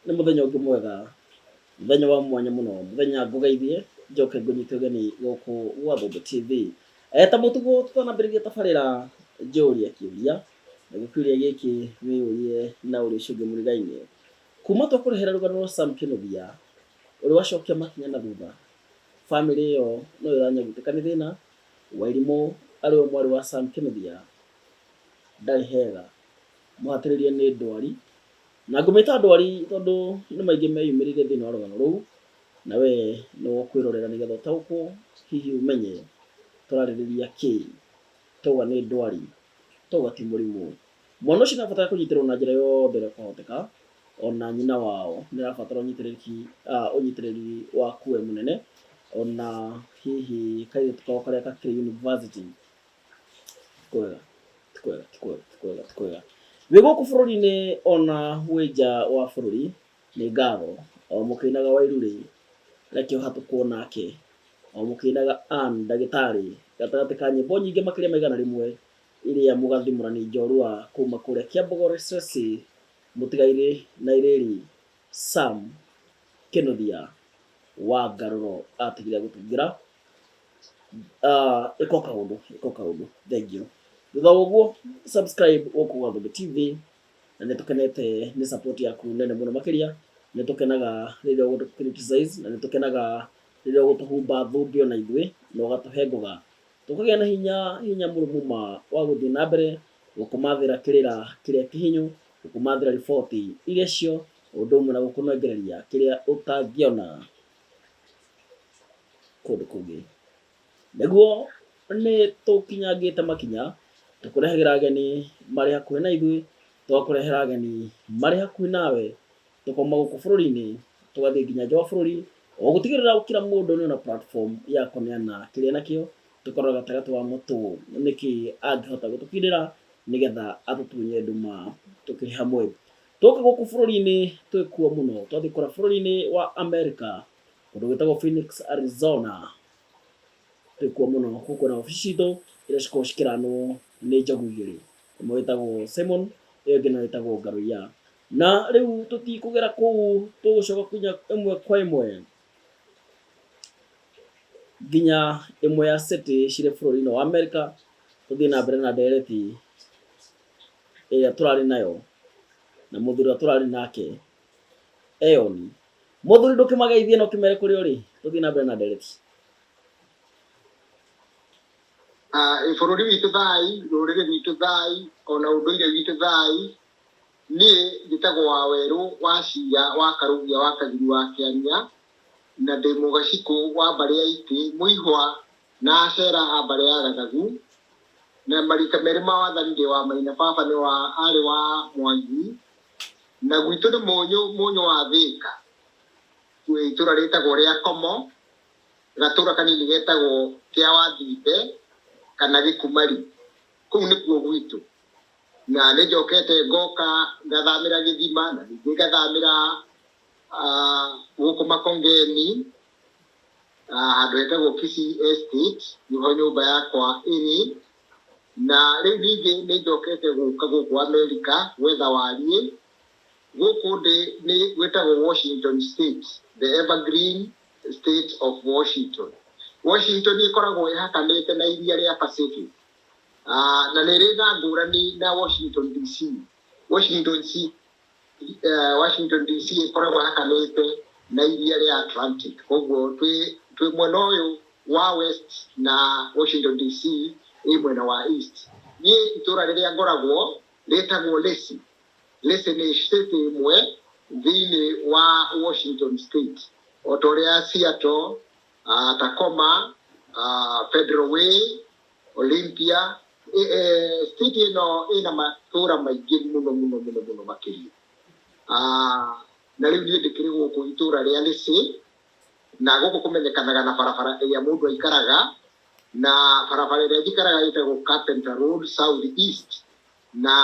nĩ mũthenya ũngĩ mwega mũthenya wa mwanya mũno mũthenya ngũgeithie njoke ngũnyite ũgeni gũkũ gwa Thũmbĩ TV Eh, ta mũtugo tũtanambĩrĩria tabarĩra njũria kĩũria na gĩkĩũria gĩkĩ wĩyũrie na ũrĩa ũcio ũngĩ mũrigainĩ kuma twakũrehera rũgano rwa Sam Kĩnũthia ũrĩa wacokia makinya na thutha bamĩrĩ ĩyo no ĩranyagutĩka nĩ thĩna Wairimũ arĩ we mwarĩ wa Sam Kĩnũthia ndarĩ hega mũhatĩrĩrie nĩ ndwari, na ngũmĩta ndwari tondũ nĩ maingĩ meyumĩrĩire thĩinĩ wa rũgano rũu, na we nĩ wa kwĩrorera nĩgetha ũtaũkwo hihi ũmenye tũrarĩrĩria kĩĩ. Twauga nĩ ndwari, twauga ti mũrimũ. Mwana ũcio nĩ arabatara kũnyitĩrĩrwo na njĩra yothe ĩrĩa kwahoteka, ona nyina wao nĩ arabatara ũnyitĩrĩrĩki, ũnyitĩrĩri waku we mũnene, ona hihi kairĩtu kao karĩa gakĩrĩ yunibacĩtĩ Kwega, ti kwega, ti kwega, ti kwega, ti kwega. Thĩ gũkũ bũrũri-inĩ ona wĩ nja wa bũrũri, nĩ ngatho. O mũkĩinaga Wairũ-rĩ, reke ũhatũkwo nake. O mũkĩinaga Ann ndagĩtarĩ, gatagatĩ ka nyĩmbo nyingĩ makĩria ma igana rĩmwe iria mũgathimũra nĩ njorua kuma kũrĩa Kiambu Gores-Resi, mũtigairĩ na irĩri Sam Kĩnũthia wa Ngarũro atigire agũtungĩra. Ah, ĩko kaũndũ ĩko kaũndũ thengio thutha wa ũguo subscribe gũkũ gwa Thũmbĩ TV na nĩ tũkenete nĩ support yaku nene mũno makĩria nĩ tũkenaga rĩrĩa ũgũtũ criticize na nĩ tũkenaga rĩrĩa ũgũtũhumba thũmbĩ ona ithuĩ na ũgatũhe ngoga tũkagĩa na hinya hinya mũrũmu ma wa gũthiĩ na mbere gũkũmathĩra kĩrĩra kĩrĩa kĩhinyu gũkũmathĩra riboti iria cio ũndũ ũmwe na gũkũnengereria kĩrĩa ũtangĩona kũndũ kũngĩ nĩguo nĩ tũkinyangĩte makinya tũkũrehagĩra ageni marĩ hakuhĩ na ithuĩ tũgakũrehera ageni marĩ hakuhĩ nawe tũkauma gũkũ bũrũri-inĩ tũgathiĩ nginya nja wa bũrũri o gũtigĩrĩra kila mũndũ nĩona platform ya kũneana kĩrĩa nakĩo tũkarora gatagatĩ wa mũtũ nĩkĩ angĩhota gũtũkindĩra nĩgetha atũtunye nduma tũkĩrĩ hamwe Tũke gũkũ bũrũri-inĩ twĩ kuo mũno, twathiĩ kũrĩa bũrũri-inĩ wa Amerika, kũndũ gwĩtagwo Phoenix, Arizona. Twĩ kuo mũno, kũu kwĩna wabici citũ iria cikoragwo cikĩranwo nĩ njogu igĩrĩ, ĩmwe ĩtagwo Simon, ĩyo ĩngĩ nayo ĩtagwo Ngarũiya. Na rĩu tũtikũgera kũu, tũgũcoka kinya ĩmwe kwa ĩmwe nginya ĩmwe ya city cirĩ bũrũri-inĩ wa Amerika, tũthiĩ na mbere na ndereti. ĩrĩa tũrarĩ nayo na mũthuri ũrĩa tũrarĩ nake eyoni mũthuri ndũkĩmageithie na ũkĩmere kũrĩa ũrĩ tũthiĩ na mbere na ndereti Ah, bũrũri witũ thai rũrĩrĩ rwitũ thai ona ũndũire witũ thai niĩ njĩtagwo wa werũ wa cira wa karũgia wa kagiri wa kĩania na ndĩ mũgacikũ wa mbarĩ ya itĩ mũihwa Na Ashera a mbarĩ ya Gathagu, na marika merĩ ma wathani ndĩ wa maina, baba nĩ wa arĩ wa Mwangi, na gwitũ nĩ Mũnyũ, Mũnyũ wa Thĩka, kwĩ itũra rĩtagwo rĩa Komo, gatũra kanini getagwo kĩa Wathimbe kana Gĩkumari, kũu nĩkuo gwitũ, na nĩ njokete ngoka ngathamĩra Gĩthima, na ningĩ ngathamĩra gũkũ Makongeni, ah, handũ hetagwo Kisii Estate, nĩho nyũmba yakwa ĩrĩ, na rĩu ningĩ nĩ njokete gũka gũkũ Amerika gwetha wariĩ, gũkũ ndĩ nĩ gwĩtagwo Washington State, the evergreen state of Washington. Washington ĩkoragwo ĩhakanĩte na iria rĩa Pacific, ah, na nĩ ĩrĩ na ngũrani na Washington DC. Washington DC eh, Washington DC ĩkoragwo hakanĩte na iria rĩa Atlantic koguo twĩ twĩ mwena ũyũ wa west na Washington DC ĩ mwena wa east niĩ itũra rĩrĩa ngoragwo rĩtagwo Lacey Lacey nĩ state ĩmwe thĩinĩ wa Washington state o ta ũrĩa Seattle uh, Tacoma uh, Federal Way Olympia, city ĩno ĩna matũũra maingĩ mũno mũno mũno mũno makĩria. Na rĩu niĩ ndĩkĩrĩ gũkũ itũũra rĩa Lĩcĩ, na gũkũ kũmenyekanaga na barabara ĩrĩa mũndũ aikaraga, na barabara ĩrĩa njikaraga ĩtagwo Carpenter Road South East, na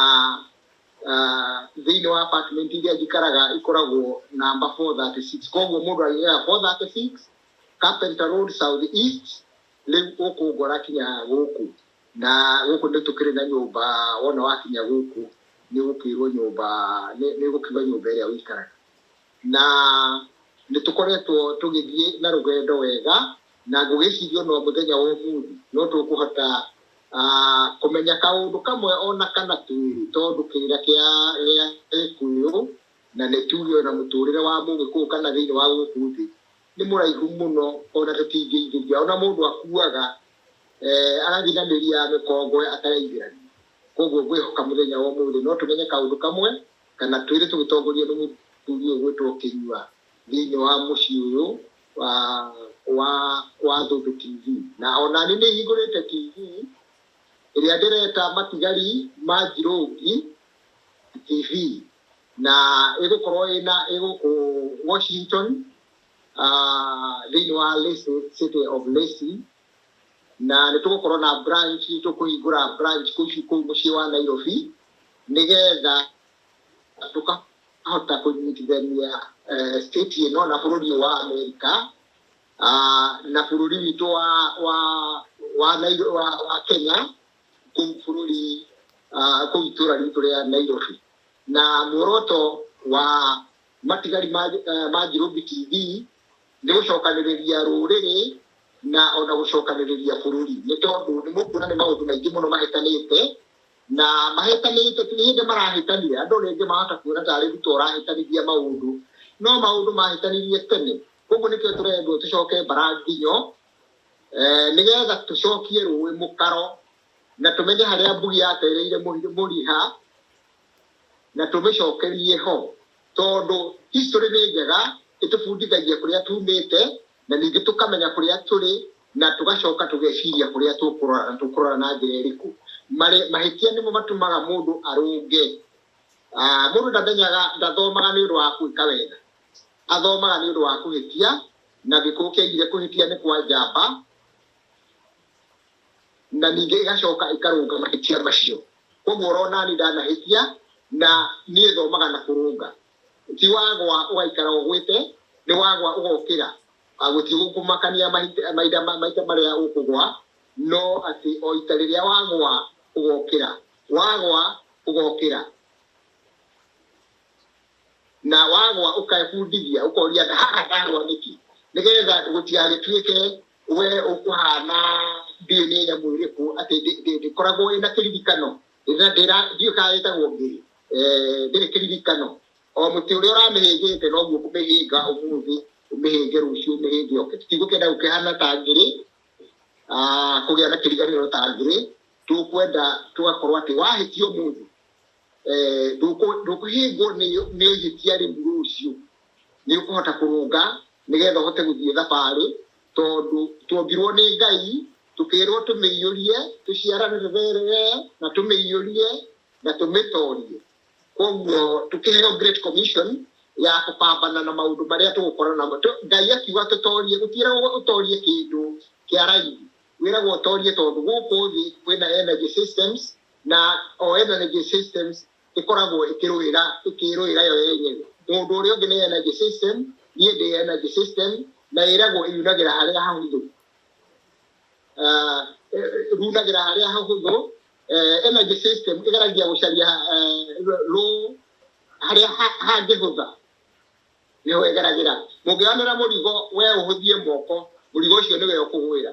thĩinĩ wa apartment iria njikaraga ikoragwo namba 436. Koguo mũndũ agĩetha 436 Carpenter Road South East, Rĩu ũkũngora kinya gũkũ? Na gũkũ nĩ tũkĩrĩ na nyũmba, wona wakinya gũkũ nĩ ũgũkĩrwo nyũmba, nĩ ũgũkiuga nyũmba ĩrĩa ũikaraga. Na nĩ tũkoretwo tũgĩthiĩ na rũgendo wega, na ngũgĩciria o na mũthenya wa ũmũthĩ no tũkũhota kũmenya kaũndũ kamwe o na kana twĩrĩ, tondũ kĩrĩra kĩa Gĩkũyũ na nĩ tuge o na mũtũrĩre wa Mũgĩkũyũ kana thĩinĩ wa gũkũ thĩ, nĩ mũraihu mũno ona tũtingĩingĩria, ona mũndũ akuaga eh, agathiĩ na mĩri ya mĩkongwe atareithĩrania. Koguo ngwĩhoka mũthenya wa ũmũthĩ no tũmenye kaũndũ kamwe kana twĩrĩ tũgĩtongorio nĩ mũthuri ũyũ gwĩtwo Kĩnyua thĩinĩ wa mũciĩ ũyũ wa, wa, wa Thũmbĩ TV. Na ona niĩ nĩ hingũrĩte TV ĩrĩa ndĩreta matigari ma Njirũngi TV. na ĩgũkorwo ĩna ĩgũkũ Washington ah, thĩinĩ wa Lacey, city of Lacey na nĩ tũgũkorwo na branch tũkũhingũra branch kũu ci- kũu mũciĩ wa Nairobi nĩgetha tũkahota kũnyitithania eh, state ĩno na bũrũri ũyũ wa Amerika Ah, na bũrũri witũ wa wa wa, Nairo, wa, wa Kenya kũu bũrũri ah, kũu itũra ritũ rĩa Nairobi na muoroto wa matigari ma eh, ma Njirũmbi TV nĩ gũcokanĩrĩria rũrĩrĩ na ona gũcokanĩrĩria bũrũri nĩ tondũ nĩ mũkuona nĩ maũndũ maingĩ mũno mahĩtanĩte na mahĩtanĩte ti hĩndĩ marahĩtanire andũ rĩngĩ mahota kuona tarĩ ruto ũrahĩtanithia maũndũ no maũndũ mahĩtanirie tene koguo nĩkĩo tũrendwo tũcoke mbaranginyo Eh, nĩgetha tũcokie rũĩ mũkaro na tũmenye harĩa mbugi yatereire mũhi- mũriha na tũmĩcokerie ho tondũ history nĩ njega ĩtũbundithagia kũrĩa tumĩte na ningĩ tũkamenya kũrĩa tũrĩ na tũgacoka tũgeciria kũrĩa tũkũrora na tũkũrora na njĩra ĩrĩkũ Marĩ- mahĩtia nĩmo matũmaga mũndũ arũnge Ah, mũndũ ndamenyaga ndathomaga nĩ ũndũ wa gwĩka wega athomaga nĩ ũndũ wa kũhĩtia na gĩkũũ kĩaigire kũhĩtia nĩ kwa njamba na ningĩ ĩgacoka ĩkarũnga mahĩtia macio koguo ũrona nĩ ndanahĩtia na niĩ thomaga na kũrũnga ti wagwa ũgaikara ũgwĩte nĩ wagwa ũgokĩra Ah, gũtirĩ gũkũmakania mahinda mahinda ma- maita marĩa ũkũgwa no atĩ o ita rĩrĩa wagwa ũgokĩra wagwa ũgokĩra na wagwa ũkebundithia ũkoria na haha ndagwa nĩkĩ nĩgetha gũtigagĩtuĩke we ũkũhana ndiĩ nĩ nyamũ ĩrĩkũ atĩ ndĩ- ndĩ- ndĩkoragwo ĩna kĩririkano Ndĩna- ndĩra- ndiũĩ kana ĩtagwo ngĩrĩ Eh, ndĩrĩ kĩririkano o mũtĩ ũrĩa ũramĩhĩngĩte noguo ũkũmĩhĩnga ũmũthĩ ũmĩhĩnge rũciũ ũmĩhĩnge oke tũtigũkĩenda gũkĩhana ta ngĩrĩ ah, kũgĩa na kĩriganĩro ta ngĩrĩ tũkwenda tũgakorwo atĩ wahĩtia ũmũthĩ eh, ndũkũ- ndũkũhingwo nĩ- nĩ ihĩtia rĩu rũciũ nĩ ũkũhota kũrũnga nĩgetha ũhote gũthiĩ thabarĩ tondũ tuombirwo nĩ ngai tũkĩrwo tũmĩiyũrie tũciaranĩre rere na tũmĩiyũrie na tũmĩtorie koguo tũkĩheo great commission ya kũpambana na maũndũ marĩa tũgũkorana namo Tũ- ngai akiuga tũtorie gũtiĩragwo ũtorie kĩndũ kĩa raithi wĩragwo ũtorie tondũ gũkũ thĩ kwĩna energy systems na o energy systems ĩkoragwo ĩkĩrũĩra ĩkĩrũĩra yo yenyewe mũndũ ũrĩa ũngĩ nĩ energy system niĩ ndĩ energy system na ĩragwo yunagĩra harĩa hahũthũ runagĩra ah, eh, harĩa hahũthũ eh, energy system ĩgeragia gũcaria rũ eh, harĩa hangĩhũtha nĩho ĩgeragĩra mũngĩonera mũrigo we ũhũthie moko mũrigo ũcio nĩwe ũkũgwĩra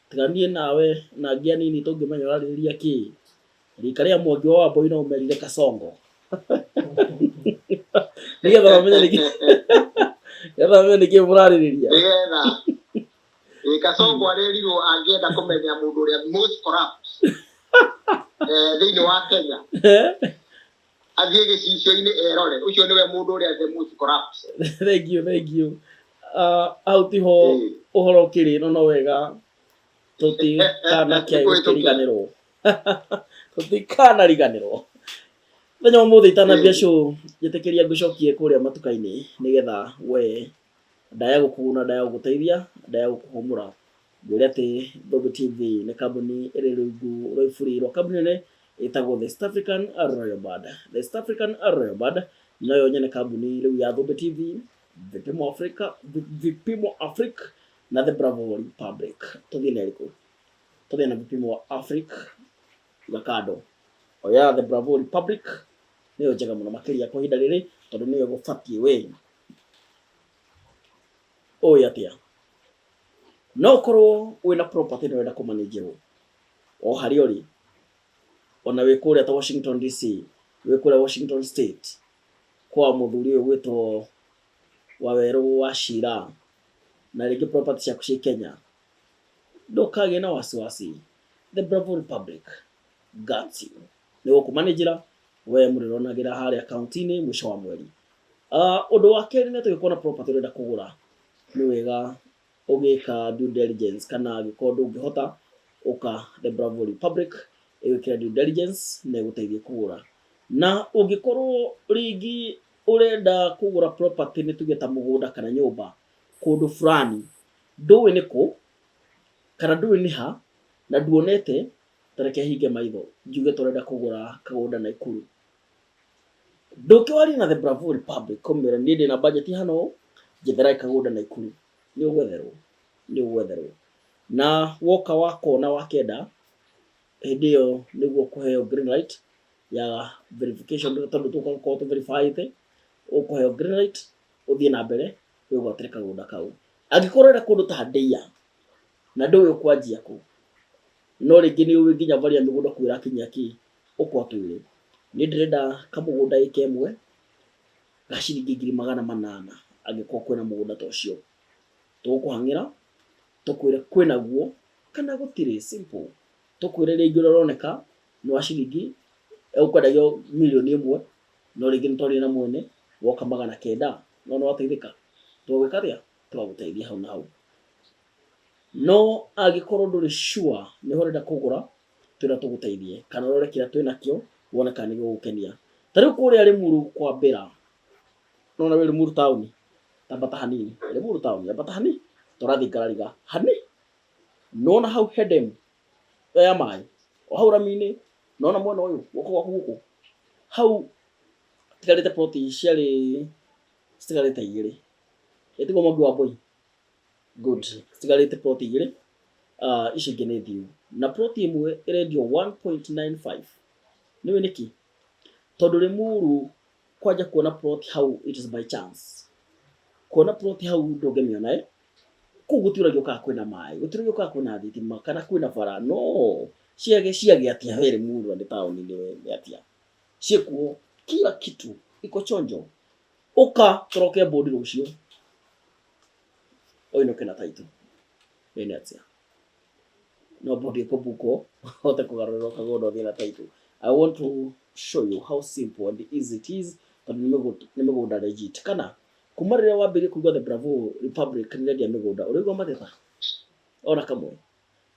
Tiga niĩ nawe na angĩ anini tũngĩmenya ũrarĩrĩria kĩ. Rika rĩa mwangi wa wamboi no ũmerire kasongo. Nĩgetha mamenye nĩkĩ. Nĩgetha mamenye nĩkĩ mũrarĩrĩria. Nĩgetha. Ĩ kasongo arerirwo angĩenda kũmenya mũndũ ũrĩa most corrupt. Eh, thĩinĩ wa Kenya. athiĩ gĩcicio-inĩ erore ũcio nĩwe mũndũ ũrĩa the most corrupt thengio thengio Ah, hau tiho Ĩĩ. ũhoro ũkĩrĩ no no wega tũtikanakĩaĩ Nĩkũhĩtũkĩra. gũkĩriganĩrwo tũtikanariganĩrwo mũthenya wa ũmũthĩ itanambia Ĩĩ. show njĩtĩkĩria ngũcokie kũrĩa matuka-inĩ nĩgetha we Ndaya gũkũguna, ndaya gũgũteithia, ndaya gũkũhũmũra. Ngwĩre atĩ Thũmbĩ TV nĩ kambuni ĩrĩ rungu rwa iburi rwa kambuni nene ĩtagwo The East African Royal Band. The East African Royal Band noyo nyene kambuni rĩu ya Thũmbĩ TV, Vipimo Africa, Vi- Vipimo Africa na The Bravo Republic. Tũthiĩ na ĩrĩkũ? Tũthiĩ na Vipimo Africa iga kando. Oya The Bravo Republic nĩyo njega mũno makĩria kwa ihinda rĩrĩ tondũ nĩyo ĩgũbatiĩ we ũĩ atĩa no ũkorwo wĩna property na wenda kũmanĩnjĩrwo o harĩa ũrĩ ona wĩ kũrĩa ta washington dc wĩ kũrĩa washington state kwa mũthuri ũyũ gwĩtwo wawerũ wa cira na rĩngĩ property ciaku ciĩ kenya ndũkagĩe na wasiwasi the bravo republic got you nĩ gũkũmanĩnjĩra we mũrĩronagĩra harĩa akaunti-inĩ mũico wa mweri Ah, ũndũ wa kerĩ nĩ tũgĩkorwo na property ũrenda kũgũra nĩ wega ũgĩka due diligence kana angĩkorwo ndũngĩhota ũka the bravo republic ĩgwĩkĩra due diligence na ĩgũteithie kũgũra na ũngĩkorwo rĩngĩ ũrenda kũgũra property nĩ tuge ta mũgũnda kana nyũmba kũndũ fulani ndũĩ nĩ kũ kana ndũĩ nĩ ha na nduonete ta reke hinge maitho njuge tũrenda kũgũra kagũnda Naikuru. Ndũke warie na The Bravo Republic ũmĩre niĩ ndĩna budget hana ũũ, njetheraĩ kagũnda Naikuru. Nĩ ũgwetherwo, nĩ ũgwetherwo. Na woka wakona wakenda, hĩndĩ ĩyo nĩguo ũkũheo green light ya verification tondũ tũka gũkorwo tũ verify ĩte, ũkũheo green light ũthiĩ na mbere wĩgwatĩre kagũnda kau. Angĩkorwo ũrenda kũndũ ta Ndeia, Na ndũĩ ũkwanjia kũ? No rĩngĩ nĩũĩ nginya mbarĩ ya mĩgũnda kuo ĩrakinyia kĩ? Ũkwa twĩre. Niĩ ndĩrenda kamũgũnda ĩka ĩmwe ga ciringi ngiri magana manana angĩkorwo kwĩna mũgũnda ta ũcio. Tũgũkũhang'ĩra tũkwĩre kwĩnaguo kana gũtirĩ, simple. Tũkwĩre rĩngĩ ũrĩa ũroneka nĩ wa ciringi, ũkwendagio mirioni ĩmwe no rĩngĩ nĩtwaria na mwene woka magana kenda. Nĩwona wateithĩka? Tũgwĩka atĩa? Tũgagũteithia hau na hau. No angĩkorwo ndũrĩ sure nĩho ũrenda kũgũra, twĩra tũgũteithie kana ũrore kĩrĩa twĩnakĩo wone kana nĩgĩgũgũkenia. Ta rĩu kũrĩa Rĩmuru kwa Bella, nĩwona wĩ Rĩmuru taũni, ambata hanini, Rĩmuru taũni, ambata hanini, ta ũrathiĩ Ngarariga, hanini, nĩwona hau he dam ĩyo ya maĩ, o hau rami-inĩ, nĩwona mwena ũyũ, guoko gwaku gũkũ, hau hatigarĩte plot cierĩ citigarĩte igĩrĩ, ĩ tiguo Mwangi wa Mbũi? good citigarĩte plot igĩrĩ Ah, ici ingĩ nĩ thiu na plot ĩmwe ĩrendio 1.95 nĩwe nĩkĩ tondũ rĩmuru kwanja kuona plot hau it is by chance kuona plot hau ndũngĩmĩona ĩ kũu gũtiũragio kana kwĩna maĩ gũtiũragio kana kwĩna thitima kana kwĩna bara no ciage ciage atia we rĩmuru na nĩ taũni-inĩ we nĩ atia ciĩkuo kila kitu iko chonjo ũka tũroke mbũndĩro ũcio oinũke na taitũ ene atia no mbũndi ĩkũmbukwo hote kũgarũrĩrwo kagũndũ thiĩ na taitũ i want to show you how simple and easy it is tondũ nĩ mĩgũ- nĩ mĩgũnda legit kana kuma rĩrĩa wambĩrĩria kũigua the bravo republic nĩrendia mĩgũnda ũrĩigua magetha ona kamwe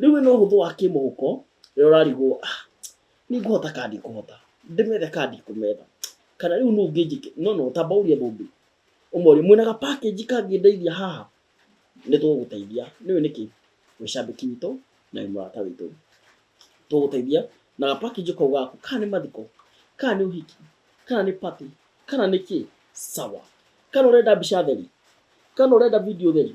Rĩu wĩna ũhũthũ wa kĩmũhuko, rĩrĩa ũrarigwo, ah, nĩ ngũhota kana ndikũhota, ndĩmethe kana ndikũmetha, kana rĩu nũũ ũngĩnjĩkĩra, no no, tamba ũrie mũndũ, ũmorie, mwĩna ga package kangĩndeithia haha? Nĩ tũgũgũteithia, nĩ ũĩ nĩkĩ? Wĩ cambĩki witũ, na wĩ mũrata witũ. Tũgũgũteithia na ga package kau gaku, kana nĩ mathiko, kana nĩ ũhiki, kana nĩ party, kana nĩ kĩ, sawa. Kana ũrenda mbica theri, kana ũrenda video theri?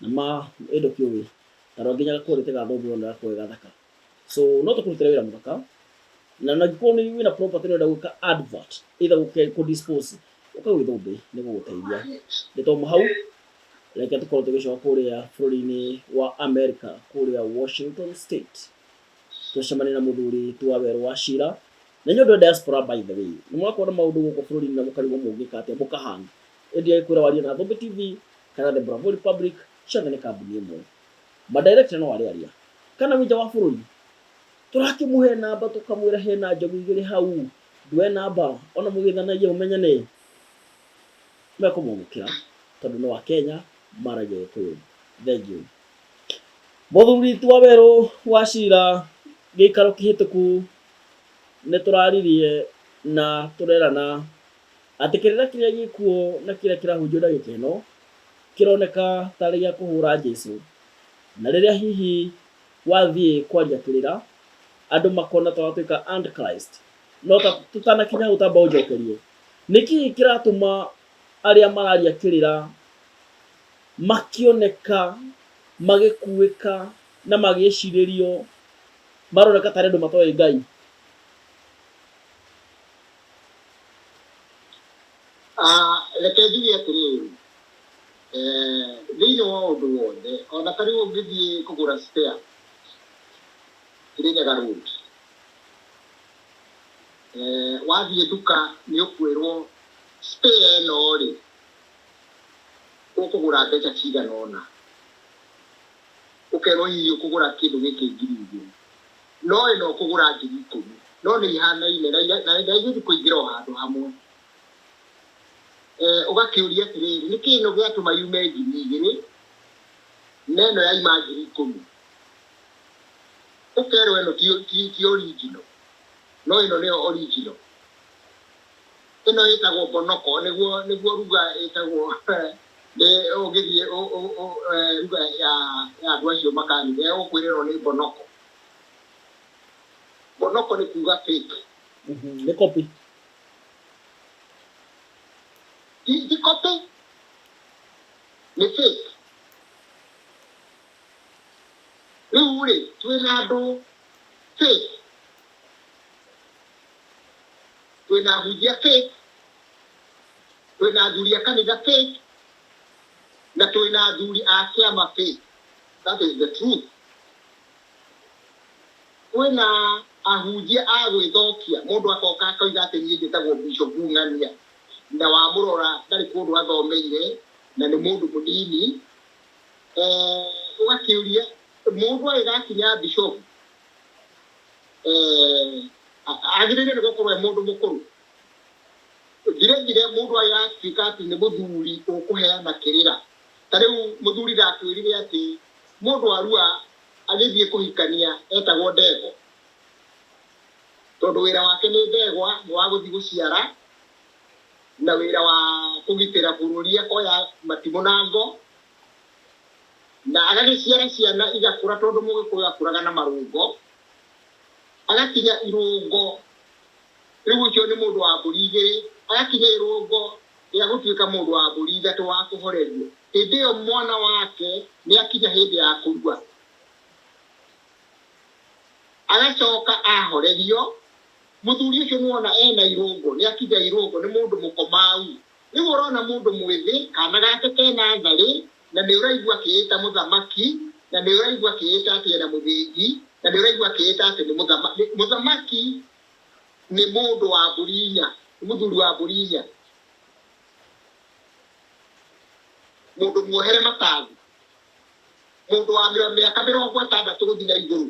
Na ma, ĩ ndũkĩũĩ? Na no nginya gakũũrĩ ke ga thũmbĩ wone ũrĩa koĩ gathaka. So no tũkũrutĩre wĩra mũthaka. Na na angĩkorwo nĩ wĩna property ũrenda gwĩka advert, either gũke kũ dispose, ũka gwĩ thũmbĩ, nĩ gũgũteithia. Nĩ twauma hau, reke tũkorwo tũgĩcoka kũũrĩa bũrũri-inĩ wa America, kũũrĩa Washington State. Tũcemanie na mũthuri Twawerũ Wachira. Na inyuĩ andũ a diaspora by the way, nĩ mũrakorwo na maũndũ gũkũ bũrũri-inĩ na mũkarigwo mũngĩka atĩa, mũka hang. Endia ikwira warie na Thombe TV kana The Bravo Republic ciothe nĩ kambuni ĩmwe. Ma director no arĩ aria. Kana wĩ nja wa bũrũri. Tũrakĩmũhe namba tũkamwĩra hena njogu igĩrĩ hau. Ndue namba ona mũgĩthanagia mũmenyane. Mekũmwamũkĩra tondũ no Akenya maragia Gĩkũyũ. Thengiũ. Mũthuri ti Wawerũ wa Cira gĩikaro kĩhĩtũku nĩ tũraririe na tũrerana Atĩ kĩrĩra kĩrĩa gĩ kuo na kĩrĩa kĩrahunjio ndagĩka ĩno kĩroneka ta arĩ gĩa kũhũũra Jesu, na rĩrĩa hihi wathiĩ kwaria kĩrĩra, andũ makona ta watuĩka Antichrist. No ta tũtanakinya hau tamba ũnjokerie, nĩ kĩ kĩratũma arĩa mararia kĩrĩra makĩoneka magĩkuĩka na magĩcirĩrio, maroneka ta arĩ andũ matoĩ Ngai? Ah, reke njuge atĩrĩrĩ eh, thĩinĩ wa ũndũ wothe ona ta rĩu ũngĩthiĩ kũgũra spare kĩrĩnyaga road eh, wathiĩ nduka nĩ ũkwĩrwo spare ĩno rĩ ũkũgũra mbeca cigana ũna ũkerwo hihi ũkũgũra kĩndũ gĩkĩ ngiri igĩrĩ No ĩno ũkũgũra ngiri ikũmi. No nĩ ihanaine na ira- na na igũthiĩ kũingĩra o handũ hamwe. Eh, Ũgakĩũria atĩrĩrĩ, nĩ kĩĩ ĩno gĩatũma yume ngiri igĩrĩ na ĩno yaima ngiri ikũmi? Ũkerwo ĩno ti ti ti original. No ĩno nĩyo original. Ĩno ĩtagwo bonoko nĩguo nĩguo ruga ĩtagwo nĩ ũngĩthiĩ ũ- ũ- ũ- eh, ruga ya ya andũ acio makanitha ĩgũkwĩra ĩno nĩ bonoko. Monoko nĩ kuuga fake. Mhm, nĩ copy. Ti ti copy. Nĩ fake. Rĩu rĩ, twĩ na andũ fake. Twĩ na ahunjia fake. Twĩ na athuri a kanitha fake. Na twĩ na athuri a kĩama fake. That is the truth. Kwĩna ahunjia a gwĩthokia, mũndũ akoka akoiga atĩ niĩ njĩtagwo Bishop Ng'ania, na wamũrora ndarĩ kũndũ athomeire na nĩ mũndũ mũnini, eh, ũgakĩũria mũndũ agĩgakinya Bishop, eh, agĩrĩire nĩ gũkorwo e mũndũ mũkũrũ? Vile vile mũndũ agĩgatuĩka atĩ nĩ mũthuri ũkũheana kĩrĩra, Ta rĩu mũthuri ndakwĩrire atĩ mũndũ Arua agĩthiĩ kũhikania etagwo Ndegwa. Tondũ wĩra wake nĩ Ndegwa nĩ wa gũthiĩ gũciara na wĩra wa kũgitĩra bũrũri akoya matimũ na ngo na agagĩciara ciana igakũra tondũ Mũgĩkũyũ akũraga na marũngo, agakinya irũngo, rĩu ũcio nĩ mũndũ wa mbũri igĩrĩ, agakinya irũngo rĩa gũtuĩka mũndũ wa mbũri ithatũ wa kũhorerio, hĩndĩ ĩyo mwana wake nĩ akinya hĩndĩ ya kũrua, agacoka ahorerio, mũthuri ũcio nĩ wona ena irũngo, nĩ akinya irũngo, nĩ mũndũ mũkomau. Rĩu ũrona mũndũ mwĩthĩ, kana gake kena tharĩ, na nĩ ũraigua keĩta mũthamaki, na nĩ ũraigua keĩta atĩ ena mũthĩgi, na nĩ ũraigua keĩta atĩ nĩ mũthamaki. Mũthamaki nĩ mũndũ wa mbũri inya, nĩ mũthuri wa mbũri inya, mũndũ muohere matangi, mũndũ wa mĩro- mĩaka mĩrongo ĩtandatũ gũthiĩ na igũrũ.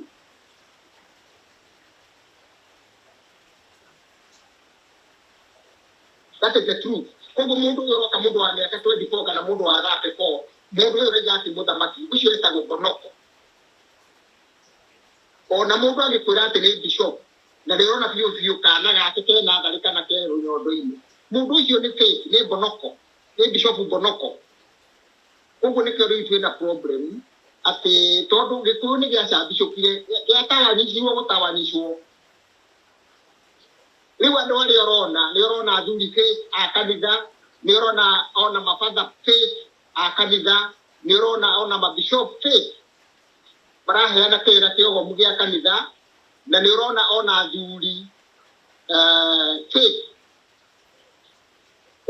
That is the truth. Koguo mũndũ ũyũ ũroka mũndũ wa mĩaka 24 kana mũndũ wa 34, mũndũ ũyũ ũraiga atĩ mũthamaki, ũcio etagwo Bonoko. Ona mũndũ angĩkwĩra atĩ nĩ bishop na ndĩrona biũ biũ kana gake ke natharĩ kana ke rũnyondo-inĩ, mũndũ ũcio nĩ fake, nĩ mbonoko, nĩ bishop mbonoko. Ũguo nĩkĩo rĩu twĩ na problem atĩ tondũ Gĩkũyũ nĩ gĩacambicũkire, gĩatawanyicirwo gũtawanyicwo. Rĩu andũ arĩa ũrona, nĩ ũrona athuri fake a kanitha, nĩ ũrona ona mabatha fake a kanitha, nĩ ũrona ona mabishop fake. maraheana kĩrĩra kĩogomu gĩa kanitha na nĩ ũrona ona athuri eh, fake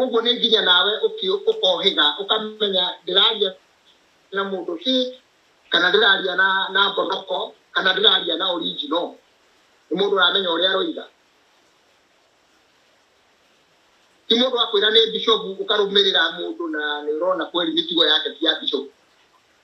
ũguo nĩ nginya nawe ũki- ũkohĩga ũkamenya ndĩraria na mũndũ fake kana ndĩraria na na mbonoko kana ndĩraria na original nĩ mũndũ ũramenya ũrĩa aroiga ti mũndũ akwĩra nĩ bishopu ũkarũmĩrĩra mũndũ na nĩ ũrona kweli mĩtugo yake ti ya bishopu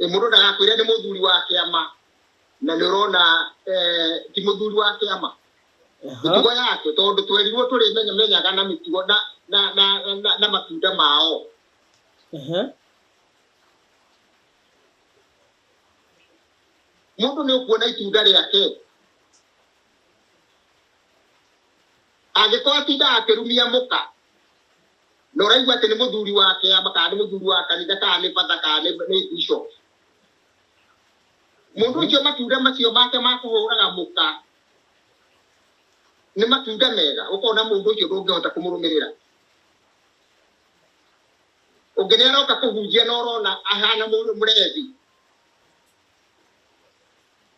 Eh, Mũndũ ndagakwĩre nĩ mũthuri wa kĩama na nĩ ũrona eh, ti mũthuri wa kĩama mĩtugo yake tondũ twerirwo tũrĩmenyaga na mĩtugo na, na, na, na, na matunda mao Aha. mũndũ nĩ ũkuona itunda rĩake angĩkorwo atindaga akĩrumia mũka na ũraigua atĩ nĩ mũthuri wa kĩama kana nĩ mũthuri wa kanitha kana nĩ bata kana nĩ nĩ bishop mũndũ ũcio matunda macio make ma kũhũraga mũka nĩ matunda mega ũkona mũndũ ũcio ndũngĩhota kũmũrũmĩrĩra ũngĩ nĩ aroka kũhunjia na ũrona ahana mũndũ mũrethi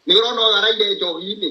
nĩ ũrona ũyũ araire njohi-inĩ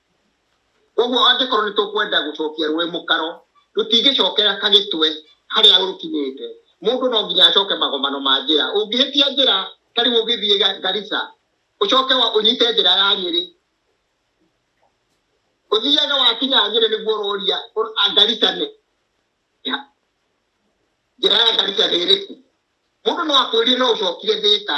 Koguo angĩkorwo nĩ tũkwenda gũcokia rũĩ mũkaro, rũtingĩcokera Kagĩtwe harĩa rũkinyĩte. Mũndũ no nginya acoke magomano ma njĩra. Ũngĩhĩtia njĩra ta rĩu ũgĩthiĩ Garissa, ũcoke ũnyite njĩra ya Nyĩrĩ, ũthiaga wakinya Nyĩrĩ nĩguo ũroria Garissa nĩ ha? Njĩra ya Garissa nĩ ĩrĩkũ? Mũndũ no akwĩrie no ũcokire Thĩka.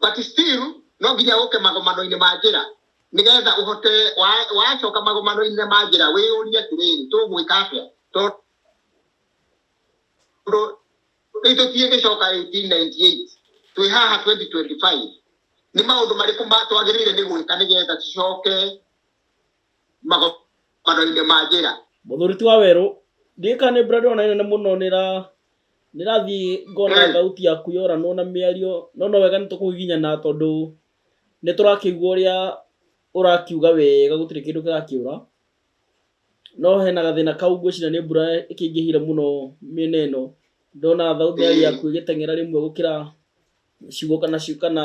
but still no nginya ũke magomano-inĩ ma njĩra nĩgetha ũhote wa- wacoka magomano-inĩ ma njĩra wĩyũrie atĩrĩrĩ tũgwĩka atĩa tondũ rĩu tũtiĩ gĩcoka 1898 twĩ haha 2025 nĩ maũndũ marĩkũ ma- twagĩrĩire nĩ gwĩka nĩgetha tũcoke magokano-inĩ ma njĩra mũthuri ti wa werũ ndiĩ kana nĩ brand ona nene mũno nĩ ra nĩ rathiĩ ngona Mm. thauti yaku yoranwo na mĩario no no wega nĩ tũkũgiginyana tondũ nĩ tũrakĩigua ũrĩa ũrakiuga wega gũtirĩ kĩndũ kĩrakĩũra no hena gathĩna kau ngwĩciria nĩ mbura ĩkĩingĩhire mũno mĩena ĩno ndona thauti Mm. yaku ĩgĩteng'era rĩmwe gũkĩra ciugo kana ciugo kana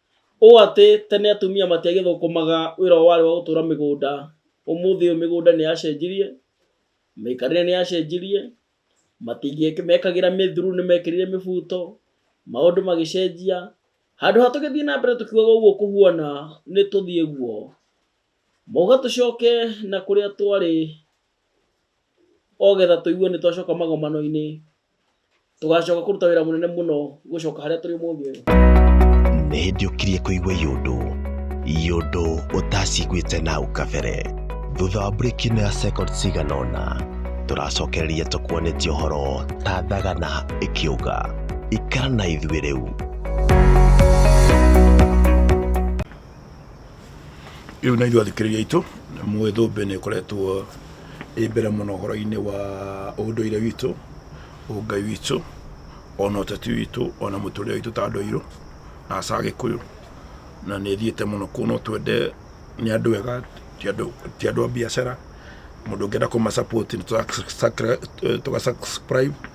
Ũũ atĩ, tene atumia matiagĩthũkũmaga wĩra ũyũ warĩ wa gũtũra mĩgũnda, ũmũthĩ ũyũ mĩgũnda nĩ yacenjirie, mĩikarĩre nĩ yacenjirie, matingĩmekagĩra mĩthuru nĩ mekĩrire mĩbuto, maũndũ magĩcenjia, handũ ha tũgĩthiĩ na mbere tũkiugaga ũguo kũhuana nĩ tũthiĩ ũguo, mauga tũcoke na kũrĩa twarĩ. ogetha tũigue nĩ twacoka magomano-inĩ tũgacoka kũruta wĩra mũnene mũno gũcoka harĩa tũrĩ mũthĩ ũyũ nĩ hĩndĩ ũkirie kũigua yũndũ yũndũ ũtaciguĩte na hau kabere thutha wa mburĩki ĩno ya second cigana ũna tũracokereria tũkuonetie ũhoro ta thagana ĩkĩũga ikara na ithuĩ rĩu rĩu na ithuĩ athikĩrĩria aitũ mũĩ thũmbĩ nĩ ĩkoretwo ĩ mbere mũno ũhoro-inĩ wa ũndũire witũ ũngai witũ ona ũteti witũ ona mũtũrĩre witũ ta andũ airũ na aca gĩkũyũ na nĩ ĩthiĩte mũno kũu no twende nĩ andũ ega ti andũ ti andũ a biacara mũndũ ũngĩenda kũma support nĩ tũra tũga subscribe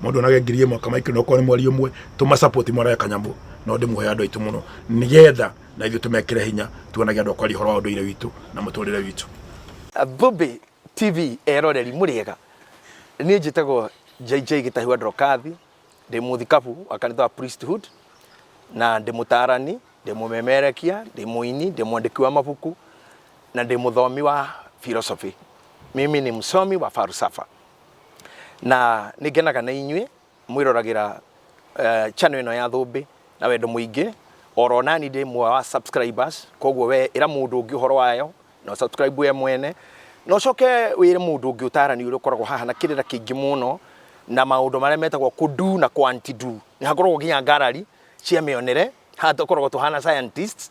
mundu onage ngiri imwe kamaikire okorwo ni mweri umwe tuma support mwarae kanyamu no ndimuhe andu aitu muno nigetha na ithu tumekire hinya tuonage andu akwaria horo wa unduire witu na muturire witu Bobe TV eroreri muriega ni njitagwo JJ Gitahu Androkathi ndi muthikabu wa kanitha wa Priesthood na ndi mutarani ndi mumemerekia ndi muini ndi mwandiki wa mabuku na ndi muthomi wa philosophy mimi ni msomi wa falsafa na nĩ ngenaga na inyuĩ mwĩroragĩra eh, channel ĩno ya thũmbĩ na wendo mũingĩ oro nani ndĩ mwe wa subscribers koguo we ĩra mũndũ ũngĩ ũhoro wayo na ũ subscribe we mwene na ũcoke wĩre mũndũ ũngĩ ũtarani ũrĩa ũkoragwo haha na kĩrĩra kĩingĩ mũno na maũndũ marĩa metagwo kudu na kwantidu nĩ hakoragwo nginya ngarari cia mĩonere haha tũkoragwo tũhana scientists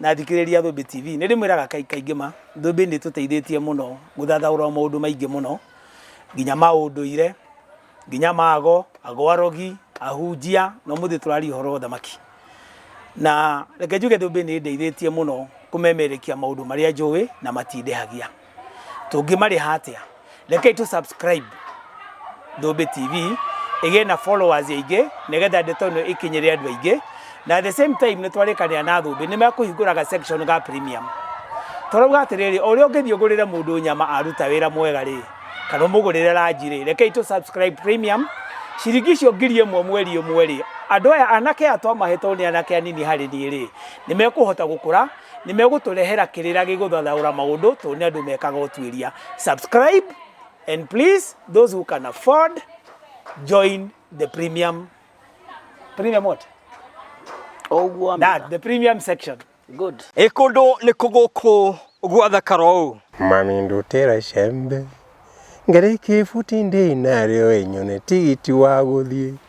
na athikĩrĩria Thũmbĩ TV. Nĩ ndĩmwĩraga kaingĩ kaingĩ ma, Thũmbĩ nĩ ĩtũteithĩtie mũno gũthathaũra maũndũ maingĩ mũno, nginya ma ũndũire, nginya ma ago, ago arogi, ahunjia, na ũmũthĩ tũraria ũhoro wa ũthamaki. Na reke njuge Thũmbĩ nĩ ĩndeithĩtie mũno kũmemerekia maũndũ marĩa njũĩ na matindehagia. tũngĩmarĩha atĩa rekei tũ subscribe Ndũmbĩ TV ĩgĩe na followers aingĩ nĩgetha ndeto ĩno ĩkinyĩre andũ aingĩ na at the same time nĩ twarĩkanĩra na Thũmbĩ nĩ mekũhingũraga section ga premium tũrauga atĩrĩrĩ ũrĩa ũngĩthiĩ ũgũrĩre mũndũ nyama aruta wĩra mwega rĩ kana ũmũgũrĩre ranji rĩ rekei tũ subscribe premium ciringi icio ngiri ĩmwe mweri ĩmwe rĩ andũ aya anake aya twamahetwo nĩ anake anini harĩ niĩ rĩ nĩ mekũhota gũkũra Nĩ megũtũrehera kĩrĩra gĩgũthathaũra maũndũ tondũ nĩ andũ mekaga ũtuĩria. Subscribe and please those who can afford join the premium premium what? Oguo That the premium section. Good. Ĩ kũndũ nĩ kũgũkũ gwathakara ũũ. Mami ndutĩra icembe ngarĩkie ibuti ndĩ narĩo ĩnyone tigiti wa gũthiĩ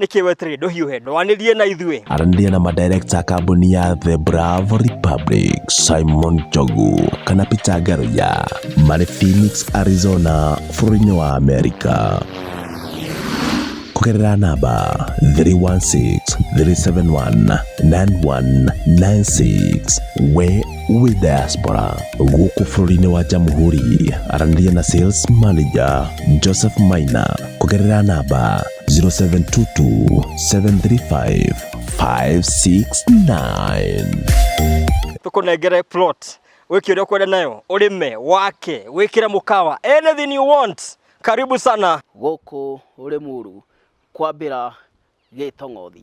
nĩkĩ weterire ndũhiũhe ndwanĩrie na ithuĩ aranĩria na madirekta a kambuni ya the bravo republic simon jogu kana peter garoya marĩ phoenix arizona bũrũri-inĩ wa amerika kũgerera namba 316-371-9196 we wĩ diaspora gũkũ bũrũri-inĩ wa jamhuri aranĩria na sales manager joseph maina kũgerera namba 0722 735 569 tũkũnengere plot wĩke ũrĩa ũkwenda nayo ũrĩme wake wĩkĩre mũkawa anything you want karibu sana gũkũ Rĩmuru kwambĩra Gĩtong'othi.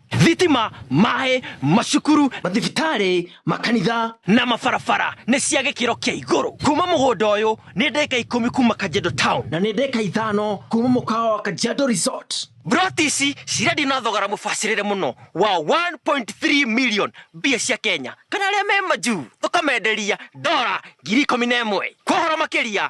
thitima, maĩ, macukuru, mathibitarĩ, makanitha na mabarabara nĩ cia gĩkĩro kĩa igũrũ. Kuma mũgũnda ũyũ nĩ ndeka ikũmi kuma Kajiado Town na nĩ ndeka ithano kuma mũkawa wa Kajiado Resort. Mburoti ici cirendio na thogora mũbacĩrĩre mũno wa 1.3 million mbia cia Kenya kana arĩa me majuu tũkamenderia ndora ngiri ikũmi na ĩmwe. Kwa ũhoro makĩria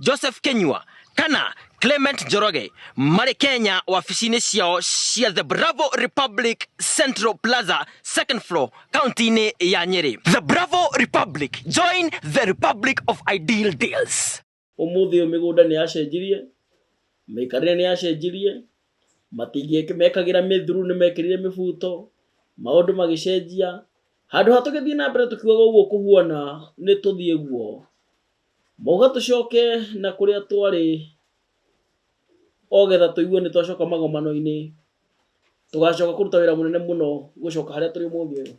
Joseph Kenyua kana Clement Njoroge marĩ Kenya wabici-inĩ ciao cia The Bravo Republic Central Plaza second floor kaunti-inĩ ya Nyeri. The Bravo Republic, join the Republic of Ideal Deals. Ũmũthĩ ũyũ mĩgũnda nĩ yacenjirie, mĩikarĩre nĩ yacenjirie, matingĩ mekagĩra mĩthuru nĩ mekĩrire mĩbuto, maũndũ magĩcenjia. Handũ ha tũgĩthiĩ na mbere tũkiugaga ũguo kũhuana nĩ tũthiĩ guo, Moga tũcoke na kũrĩa twarĩ, ogetha tũigue nĩ twacoka magomano-inĩ, tũgacoka kũruta wĩra mũnene mũno gũcoka harĩa tũrĩ ũmũthĩ ũyũ.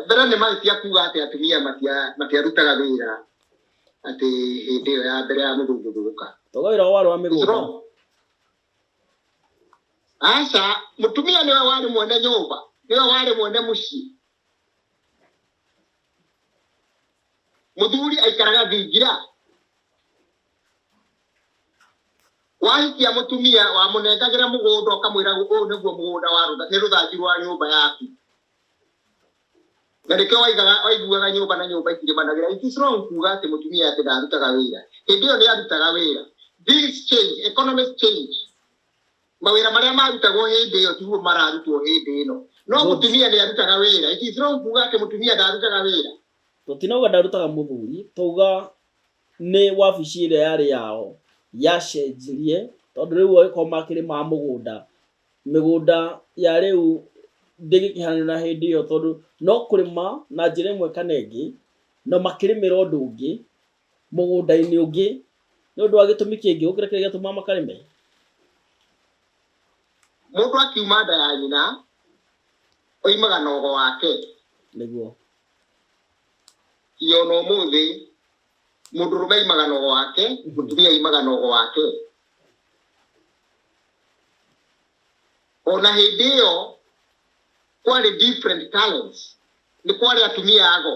Mbere nĩ mahĩtia kuuga atĩ atumia matiarutaga wĩra atĩ hĩndĩ ĩyo ya mbere ya mũthũngũ gũka. Toga wĩra wao warĩ wa mĩgũnda. Aca, mũtumia nĩwe warĩ mwene nyũmba, nĩwe warĩ mwene mũciĩ. muthuri aikaraga thingira wahikia mutumia wamunengagira mugunda ukamwira uyu niguo mugunda wa rutha ni ruthanju rwa nyumba yaku na nikio waigaga waiguaga nyumba na nyumba ikirimanagĩra it is wrong kuga atĩ mutumia atĩ ndarutaga wĩra hĩndĩ ĩyo nĩ arutaga wĩra things change economics change mawĩra marĩa marutagwo hĩndĩ ĩyo tiguo mararutwo hĩndĩ ĩno no No. mũtumia nĩ arutaga wĩra it is wrong kuga atĩ mũtumia ndarutaga wĩra tũtinauga ndarutaga mũthuri twauga nĩ wabici ĩrĩa yarĩ yao yacenjirie tondũ rĩu angĩkorwo makĩrĩ ma mũgũnda mĩgũnda ya rĩu ndĩngĩkĩhanio na hĩndĩ ĩyo tondũ no kũrĩma na njĩra ĩmwe kana ĩngĩ na makĩrĩmĩra ũndũ ũngĩ mũgũnda-inĩ ũngĩ nĩ ũndũ wa gĩtũmi kĩngĩ gũkĩra kĩrĩa gĩatũmaga makarĩme? Mũndũ akiuma nda ya nyina, oimaga na ogo wake. Nĩguo. Nginya o na ũmũthĩ, mũndũrũme aimaga na ogo wake, mũtumia aimaga na ogo wake. O na hĩndĩ ĩyo, kwarĩ different talents. Nĩ kwarĩ atumia ago,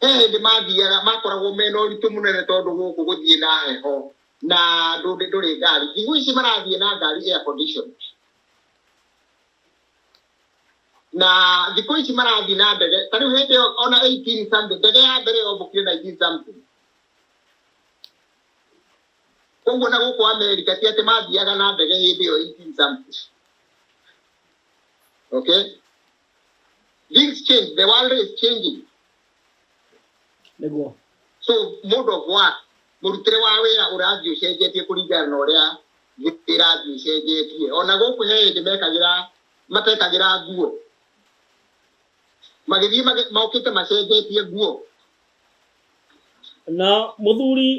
he hĩndĩ mathiaga makoragwo mena ũritũ mũnene tondũ gũkũ gũthiĩ na heho na ndũndĩ ndũrĩ ngari thigũ ici marathiĩ na ngari air condition na thikũ ici marathiĩ na ndege ta rĩu hĩndĩ ĩyo ona 18 something ndege ya mbere yombũkire 19 something koguo na gũkũ amerika ti atĩ mathiaga na ndege hĩndĩ ĩyo 18 something okay Things change. The world is changing. nĩguo So mode of work, mũrutĩre wa wĩra ũrathiĩ ũcenjetie kũringana na ũrĩa thĩ ĩrathiĩ ĩcenjetie. Ona gũkũ he hĩndĩ mekagĩra matekagĩra nguo. Magĩthiĩ mage- mokĩte macenjetie nguo. na mũthuri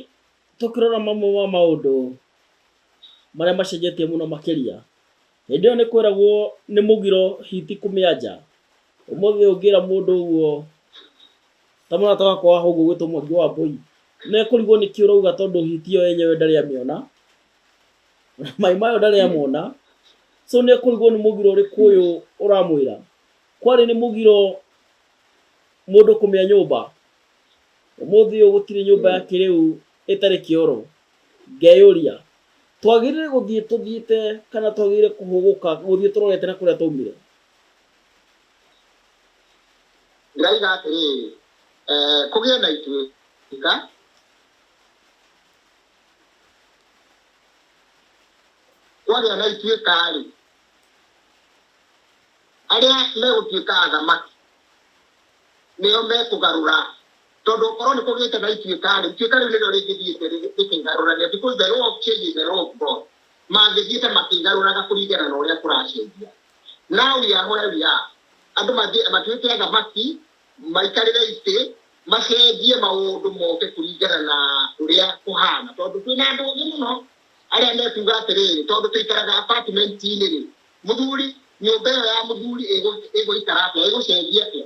tũkĩrora mamwe ma maũndũ marĩa macenjetie mũno makĩria Hĩndĩ ĩyo nĩ kwĩragwo nĩ mũgiro hiti kũmĩanja. Ũmũthĩ ũngĩra mũndũ ũguo, ta mũrata wakwa wa hau ũgwĩtwo Mwangi wa Mbũi, nĩ ekũrigwo nĩkĩ ũrauga tondũ hiti ĩyo yenyewe ndarĩ amĩona, na maĩ mayo ndarĩ amona, so nĩ ekũrigwo nĩ mũgiro ũrĩkũ ũyũ ũramwĩra. Kwarĩ nĩ mũgiro mũndũ kũmĩa nyũmba. Ũmũthĩ ũyũ gũtirĩ nyũmba ya kĩrĩu ĩtarĩ kĩoro. Ngeyũria, Twagĩrĩire gũthiĩ tũthiĩte kana twagĩrĩire kũhũgũka gũthiĩ tũrorete na kũrĩa twaumire? Ndĩroiga atĩrĩrĩ, Kũgĩe na ituĩka. Kwagĩa na ituĩka-rĩ, arĩa megũtuĩka athamaki nĩo mekũgarũra Tondũ korwo nĩ kũgĩte na ituĩka-rĩ, ituĩka rĩu nĩrĩo rĩngĩthiĩte rĩkĩigarũrania, because the law of change is the law of God. Mangĩthiĩte makĩigarũraga kũringana na ũrĩa kũracenjia. Now we are where we are. Andũ mathiĩ matuĩke athamaki, maikarĩre itĩ, macenjie maũndũ moke kũringana na ũrĩa kũhana. Tondũ kwĩna andũ ũgĩ mũno arĩa mekuga atĩrĩrĩ, tondũ tũikaraga apartment-inĩ-rĩ, mũthuri, nyũmba ĩyo ya mũthuri ĩgũ- ĩgũikara atĩa, ĩgũcenjia atĩa?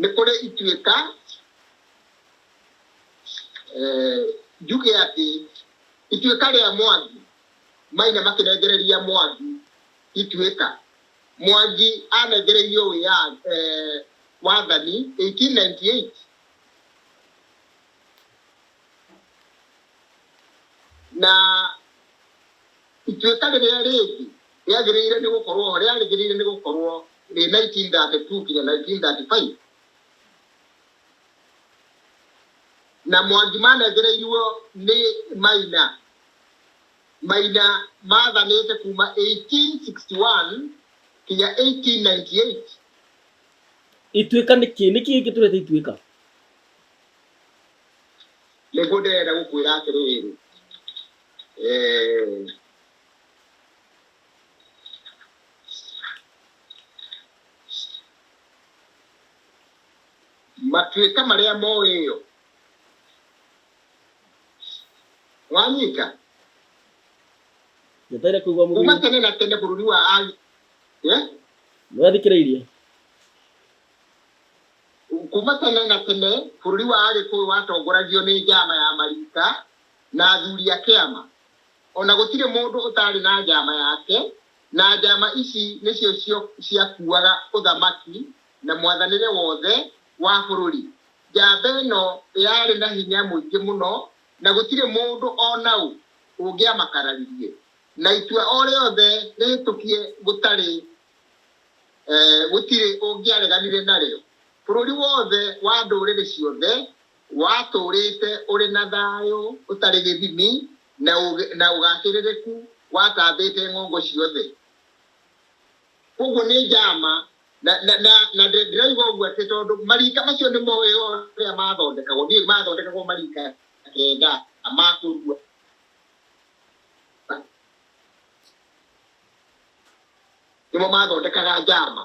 nĩ kũrĩ ituĩka eh, njuge atĩ ituĩka rĩa mwangi maina makĩrengereria mwangi ituĩka mwangi anengereirio wĩya eh, wathani 1898 na Ituĩka rĩrĩa rĩngĩ rĩagĩrĩire nĩ gũkorũo ho rĩarĩgĩrĩire nĩ gũkorũo rĩ 1932 nginya 1935, na Mwangi manengereiruo nĩ Maina. Maina maathanĩte kuuma 1861 nginya 1898. Ituĩka nĩ kĩĩ? Nĩ kĩĩ kĩtũrete Ituĩka? Nĩguo ndĩrenda gũkwĩra atĩrĩrĩ, Eh, matuĩka marĩa moĩ ĩyo wanyita njetere kuigua kuma mũthuri tene na tene bũrũri wa ai Eh? nĩwathikĩrĩirie kuma tene na tene bũrũri wa agĩkũyũ watongoragio nĩ njama ya marika na athuri a kĩama, o na gũtirĩ mũndũ ũtaarĩ na njama yake, na njama ici nĩcio cio ciakuaga ũthamaki na mwathanĩre wothe wa bũrũri. Njamba ĩno yarĩ na hinya mũingĩ mũno, na gũtirĩ mũndũ o na ũ ũngĩamakararirie, na itua o rĩothe rĩhĩtũkie gũtarĩ gũtirĩ ũngĩareganire narĩo. Bũrũri wothe wa ndũrĩrĩ ciothe Watũũrĩte ũrĩ na thayũ ũtarĩ gĩthimi na ũũgĩ na ũgacĩrĩrĩku watambĩte ng'ongo ciothe. Kwoguo nĩ njama, na, na, na, na ndĩ- ndĩroiga ũguo atĩ tondũ marika macio nĩ moĩ ũrĩa mathondekagwo. Ndiũĩ mathondekagwo marika kenda ma kũrua. Nĩmo mathondekaga njama.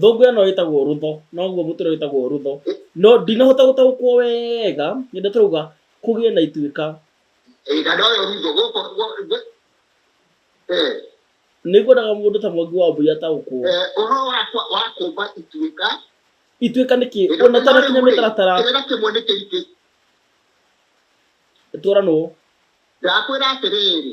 thũngũ ĩno ĩtagwo rũtho noguo mũtĩ ũrĩa wĩtagwo rũtho no ndinahota gũtaũkwo wega nĩndĩ tũrauga kũgĩe na ituĩka Ĩĩ, na noyo rutho gũkũ gũ- gũ- Eh, nĩngwendaga mũndũ ta mwangi wa mbũi ataũkwo eh, ũhoro wa kwa- wa kũmba ituĩka ituĩka nĩ kĩ ona ũtanakinya mĩtaratara kĩrĩra kĩmwe nĩ kĩingĩ tũranwo ndakwĩra atĩrĩrĩ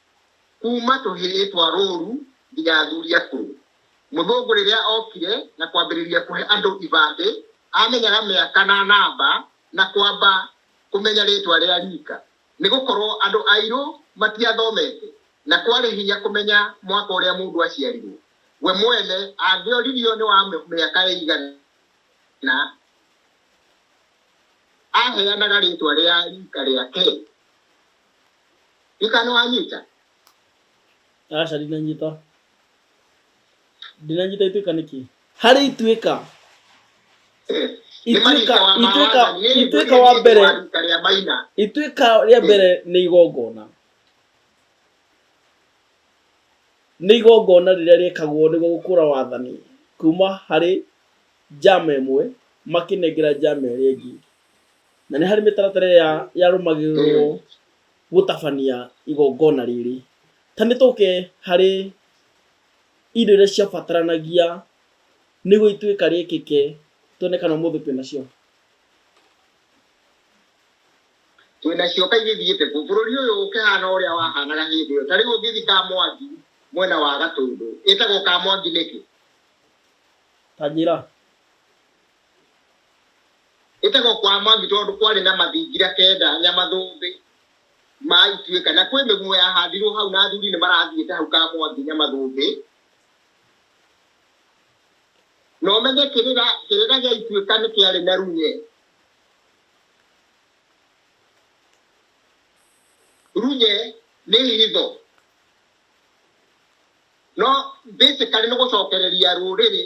kuuma tũhĩĩ twa rũũru nginya athuri akũrũ. Mũthũngũ rĩrĩa okire na kwambĩrĩria kũhe andũ ibandĩ, aamenyaga mĩaka na namba na kwamba kũmenya rĩĩtwa rĩa riika, nĩ gũkorũo andũ airũ matiathomete na kwarĩ hinya kũmenya mwaka ũrĩa mũndũ aaciarirũo. We mwene angĩoririo nĩ wa mĩaka ĩigana, aaheanaga rĩĩtwa rĩa riika rĩake. Mika nĩwanyita? Aca ndinanyita. Ndinanyita ituĩka nĩkĩ? Harĩ ituĩka. Eh, nĩ Ituĩka- Marika wa ituĩka- Mawana, nĩ ituĩka wa mbere. wa Rita rĩa Maina. Ituĩka rĩa mbere nĩ igongona. Nĩ igongona rĩrĩa rĩkagwo nĩguo gũkũra wathani kuma harĩ njama ĩmwe makĩnengera njama ĩrĩa ĩngĩ. Na nĩ harĩ mĩtaratara ĩrĩa yarũmagĩrĩrũo gũtabania igongona rĩrĩ. Ta nĩ tũke harĩ indo iria ciabataranagia nĩguo ituĩka rĩkĩke, tuone kana ũmũthĩ twĩ nacio. Twĩ nacio ta igĩthiĩte kũ? Bũrũri ũyũ ũkĩhaana o ũrĩa wahaanaga hĩndĩ ĩyo. Ta rĩu ũngĩthiĩ Kamwangi mwena wa Gatũndũ, ĩtagwo Kamwangi nĩkĩ? Ta njĩra. Gũtegwo kwa Mwangi tondũ kwarĩ na mathingira kenda Nyamathũmbĩ ma Ituĩka na kwĩ mĩguo yahandirwo hau na athuri nĩ marathiĩte hau ka Mwangi Nyamathũmbĩ. Na ũmenye kĩrĩra kĩrĩra gĩa Ituĩka nĩ kĩarĩ na runye. Runye nĩ hitho. No basically nĩ gũcokereria rũrĩrĩ.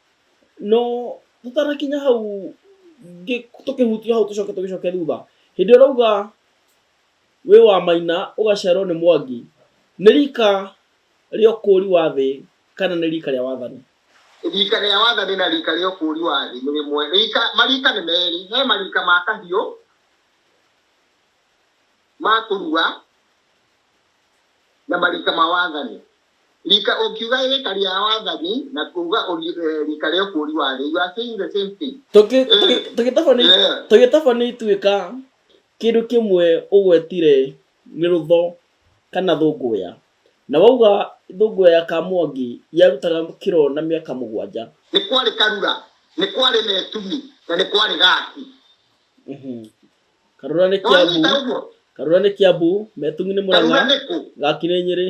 No tutarakinya hau tũkĩhutia hau tũcoke tũgĩcoke thutha hĩndĩ ũrauga wĩ wa maina ũgaciarwo nĩ mwangi nĩ rika rĩa ũkũũri wa thĩ kana nĩ rika rĩa wathani rika rĩa wathani na rika rĩa ũkũũri wa thĩ nĩ rĩmwe rika marika nĩ merĩ he marika ma kahiũ ma kũrua na marika ma wathani Rika ũkiuga rika ria wathani na kuuga eh, rika ria ũkũri wa thĩ. You are saying the same thing. Tũgĩtaba nĩ ituĩka kĩndũ kĩmwe ũgwetire nĩ rũtho kana thũngũya na wauga thũngũya ya Kamwangi yarutaga kĩro na mĩaka mũgwanja. Nĩ kwarĩ Karura, nĩ kwarĩ Metumi na nĩ kwarĩ Gati. Mhm. Karura nĩ Kiambu, Karura nĩ Kiambu, Metumi nĩ Murang'a, Gati nĩ Nyeri.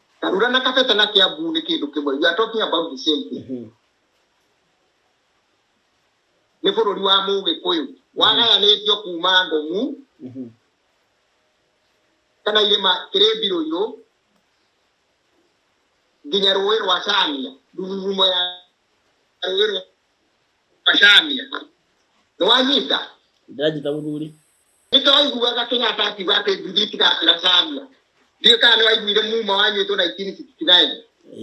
Karura na Kafeta na Kiambu ni kindu kimwe. You are talking about the same thing. Mhm. Ni bururi wa Mugikuyu. Wagayanitio kuma Ngomu Mhm. kana irima Kiribirũirũ nginya rũĩ rwa Chania, ndururumo ya rũĩ rwa Chania. Nĩwanyita? Ndĩranyita mũthuri. Nĩ twaiguaga Kenyatta akiuga atĩ nduthi itigakĩra Samia. Ndiũĩ kana nĩ waiguire Muma wanyuĩtwo 1969.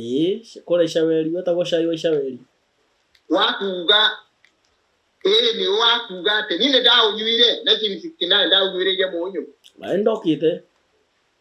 Ĩĩ, kũrĩa Icaweri, wetagwo cai wa Icaweri. Wa kuuga, ĩĩ nĩ wa kuuga atĩ niĩ nĩ ndaũnyuire 1969, ndaũnyuĩrĩire mũnyũ. Na nĩ ndokĩte.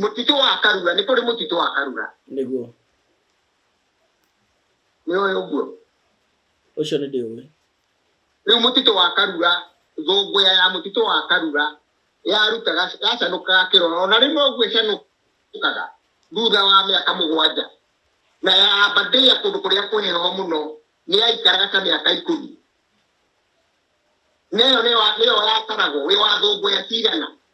Mũtitũ wa Karura, nĩ kũrĩ mũtitũ wa Karura. Nĩguo. Nĩ ũyũ ũguo. Ũcio nĩ ndĩũĩ. Rĩu mũtitũ wa Karura, thũngũya ya mũtitũ wa Karura yarutaga yacanũkaga kĩrora, ona rĩmwe ũguo ĩcanũkaga thutha wa mĩaka mũgwanja na yamba ndĩa kũndũ kũrĩa kũheho mũno nĩ yaikaraga ta mĩaka ikũmi na ĩyo nĩyo nĩyo yataragwo wĩ wa thũngũya cigana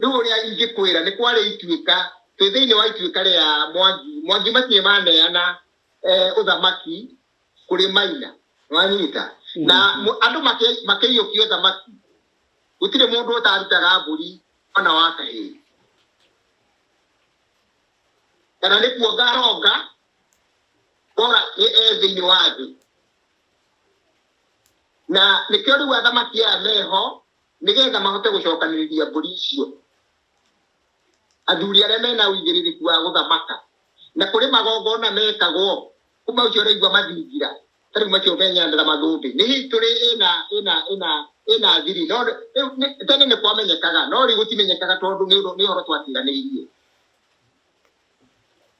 Rĩu ũrĩa ingĩkwĩra nĩ kwarĩ ituĩka, twĩ thĩinĩ wa ituĩka rĩa Mwangi. Mwangi matirĩ maneana eh, ũthamaki kũrĩ Maina. Nĩwanyita? Na mm-hmm. mũ- andũ make- makĩiyũkia ũthamaki. Gũtirĩ mũndũ ũtarutaga mbũri ona wa kahĩĩ. Kana nĩ kuonga aronga, kora nĩ e thĩinĩ wa thĩ. Na nĩkĩo rĩu athamaki aya meho, nĩ getha mahote gũcokanĩrĩria mbũri icio, athuri arĩa mena ũigĩrĩrĩku wa gũthamaka, na kũrĩ magongona mekagwo kuma ũcio ũraigua mathingira, ta rĩu macio menyanĩra mathũmbĩ, nĩ history ĩna ĩna ĩna ĩna thiri, no rĩu nĩ tene nĩ kwamenyekaga, no rĩu gũtimenyekaga tondũ nĩ ũndũ nĩ ũhoro twatiganĩirie.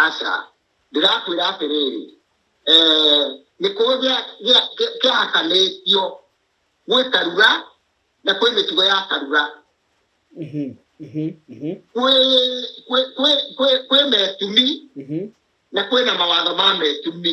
aca ndĩrakwĩra atĩrĩrĩ eh, nĩ kũũ kĩahakanĩtio gwĩ karura na kwĩ mĩtugo ya karura mhm, mhm, mhm. kwĩ metumi na kwĩ na mawatho ma metumi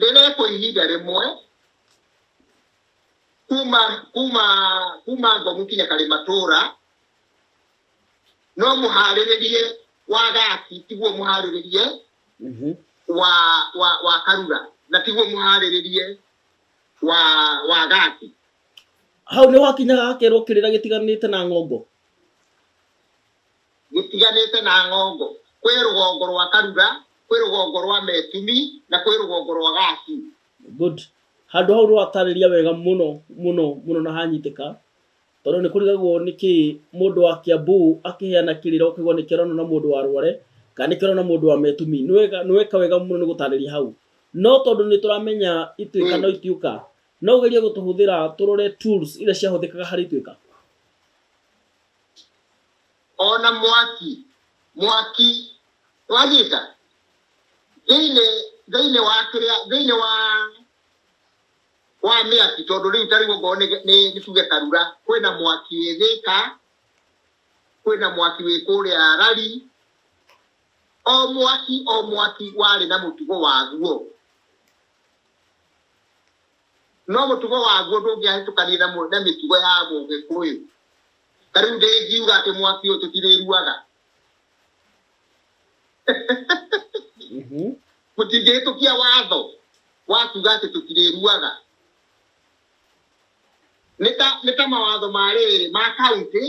Rĩrĩa kwa ihinda rĩmwe kuma kuma kuma ngomu kinya karimatũra no mũharĩrĩrie wa gaki tiguo mũharĩrĩrie Mhm. wa wa wa karura na tiguo mũharĩrĩrie wa wa gaki hau nĩ wakinyaga kerwo kĩrĩra gĩtiganĩte na ng'ongo gũtiganĩte na ng'ongo, kwĩ rũgongo rwa Karura, kwĩ rũgongo rwa Metumi, na kwĩ rũgongo rwa Gati. Good. Handũ hau nĩ watarĩria wega mũno mũno mũno na hanyitĩka tondũ nĩ kũrigagwo nĩ kĩ mũndũ wa Kiambu akĩheana kĩrĩra ũkaigua nĩ kĩronwo na mũndũ wa Rware kana nĩ kĩronwo na mũndũ wa Metumi. Nĩ wega nĩ weka wega mũno nĩ gũtarĩria hau. No tondũ nĩ tũramenya ituĩka no itiũka, no ũgerie gũtũhũthĩra tũrore tools iria ciahũthĩkaga harĩ ituĩka. ona mwaki mwaki wagita thĩinĩ thĩinĩ wa kĩrĩa thĩinĩ wa wa mĩaki tondũ rĩu ta rĩu okorwo nĩ nĩ- nĩ tuge karura kwĩna mwaki wĩ thĩka kwĩna mwaki wĩ kũrĩa rari o mwaki o mwaki warĩ na mũtugo waguo no mũtugo waguo ndũngĩahĩtũkanie na mũ- na mĩtugo ya mũgĩkũyũ ta rĩu ndĩngiuga atĩ mwaki ũyũ tũtirĩruaga Mhm. mũtingĩhĩtũkia watho wa kuga atĩ tũtirĩruaga nĩ ta nĩ ta mawatho ma rĩrĩ ma kaunti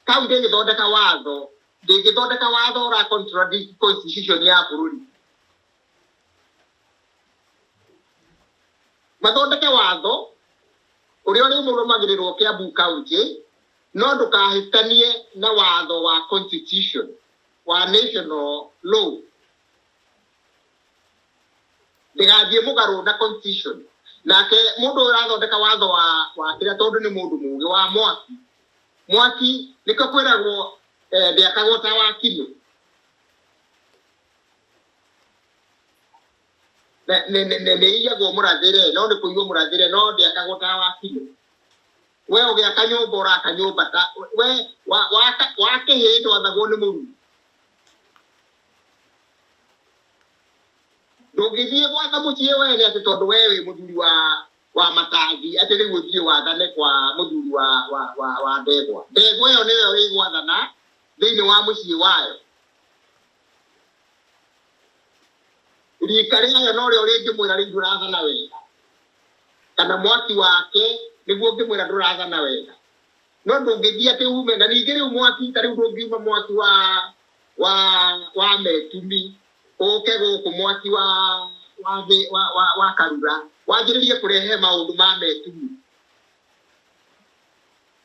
kaunti ĩgĩthondeka watho ndĩngĩthondeka watho ũra contradict constitution ya bũrũri mathondeke watho ũrĩa ũrĩmũrũmagĩrĩrwo Kiambu kaunti no ndũkahĩtanie na watho wa constitution wa national law ndĩgathiĩ mũgarũ na constitution nake mũndũ ũyũ ũrathondeka watho wa wa kĩrĩa tondũ nĩ mũndũ mũgĩ wa mwaki mwaki nĩkĩo kwĩragwo eh, ndĩakagwo ta wa kino Ne- ne- ne- ne- nĩ iyagwo mũrathĩre no nĩ kũiywo mũrathĩre no ndĩakagwo ta wa biũ we ũgĩaka nyũmba ũraka nyũmba ta we wa- waka- wakĩhĩ ndwathagwo nĩ mũruru ndũngĩthiĩ gwatha mũciĩ we nĩ atĩ tondũ we wĩ mũthuri wa wa matangi atĩ rĩu ũthiĩ wathane kwa mũthuri wa wa wa wa ndegwa ndegwa ĩyo nĩyo ĩgwathana thĩinĩ wa mũciĩ wayo rika rĩayo norĩo rĩngĩmwĩra rĩu ndũrathana wega kana mwaki wake nĩguo ũngĩmwĩra ndũrathana wega no ndũngĩthiĩ atĩ ume na ningĩ rĩu mwaki ta rĩu ndũngiuma mwaki wa wa wa metumi ũke gũkũ mwaki wa wa thĩ- wa wa, wa karura wanjĩrĩrie kũrehe maũndũ ma metumi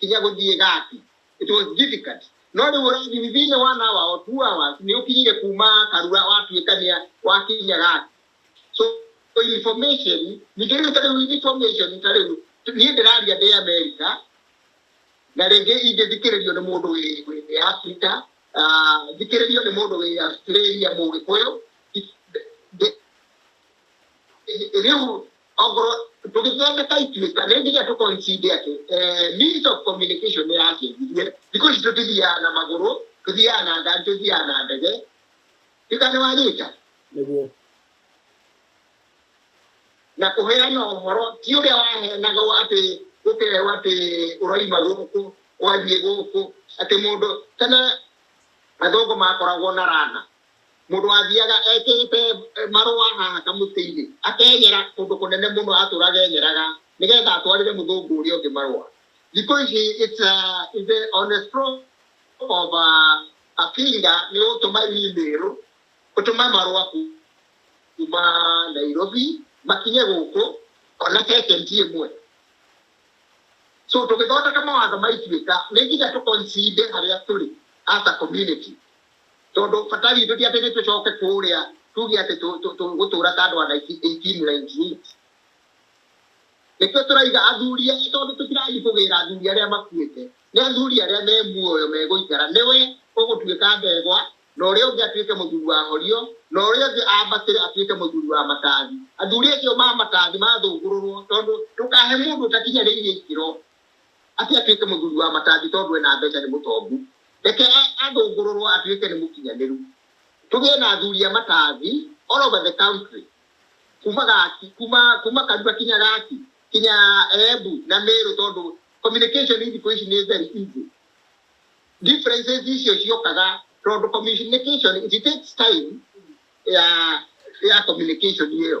kinya gũthiĩ gati it was difficult no rĩu ũrathi within one hour or two hours nĩ ũkinyire kuma karua watuĩka nĩa wakinya gati so so information ningĩ rĩu ta rĩu information ta rĩu niĩ ndĩraria ndĩ america na rĩngĩ ingĩthikĩrĩrio nĩ mũndũ wĩ wĩ thĩ ya Afrika ah, thikĩrĩrio nĩ mũndũ wĩ Australia mũgĩkũyũ rĩu ongorwo tũgĩthondeka ituĩka nĩ nginya tũkoincinde atĩ eh, means of communication nĩ yacenjirie thikũ ici tũtithiaga na magũrũ tũthiaga na ngari tũthiaga na ndege ĩka nĩ wanyita nĩguo na kũheana ũhoro ti ũrĩa waheanagwo atĩ gũkĩrehwo atĩ ũraima gũkũ ũgathiĩ gũkũ atĩ mũndũ tene athũngũ makoragwo na rana Mũndũ athiaga ekĩrĩte marũa haha kamũtĩ-inĩ, akenyera kũndũ kũnene mũno atũraga enyeraga nĩgetha atwarĩre mũthũngũ ũrĩa ũngĩ marũa. Thikũ ici it's a, it's a, on a stroke of a, a finger nĩ ũgũtũma email, ũtũme marũa kuma Nairobi makinye gũkũ ona second ĩmwe. So tũgĩthondeka mawatho ma Ituĩka nĩ nginya tũ concede harĩa tũrĩ as a community. Tondũ bata witũ ti atĩ nĩ tũcoke kũrĩa tuge atĩ tũgũtũũra ta andũ a 1898. Nĩkĩo tũraiga athuri aya tondũ tũtirathiĩ kũgĩra athuri arĩa makuĩte. Nĩ athuri arĩa me muoyo megũikara. Nĩwe ũgũtuĩka ndegwa, na ũrĩa ũngĩ atuĩke mũthuri wa horio, na ũrĩa ũngĩ ambatĩre atuĩke mũthuri wa matathi. Athuri acio ma matathi mathũngũrũrwo tondũ ndũkahe mũndũ ũtakinyanĩirie ikĩro. atĩ atuĩke mũthuri wa matangi tondũ ena mbeca nĩ mũtongu. Reke athũngũrũrwo atuĩke nĩ mũkinyanĩru. Tũgĩe na athuri a matangi all over the country kuma Gaki, kuma, kuma Karura kinya Gaki, kinya Embu na Meru tondũ communication thikũ ici nĩ very easy. Differences icio ciokaga tondũ communication, it takes time ya, ya communication ĩyo.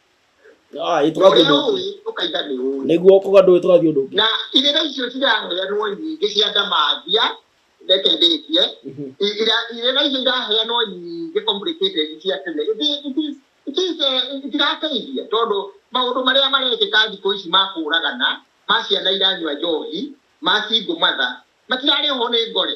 Ah, ĩtũgathiĩ ũrĩa ũndũ ũngĩ. ũĩ ũkaiga nĩ ũĩ nĩguo kũga ndũĩ tũgathiĩ ũndũ ũngĩ na irĩra icio ciraheanwo nyingĩ cia ndamathia reke ndĩkie Mhm. I- ira- irĩra icio iraheanwo nyingĩ complicated cia tene It is- it is- it is, eh, itirateithia tondũ maũndũ marĩa marekĩka thikũ ici ma kũũragana ma ciana iranyua njohi ma single mother matirarĩ ho nĩ ngore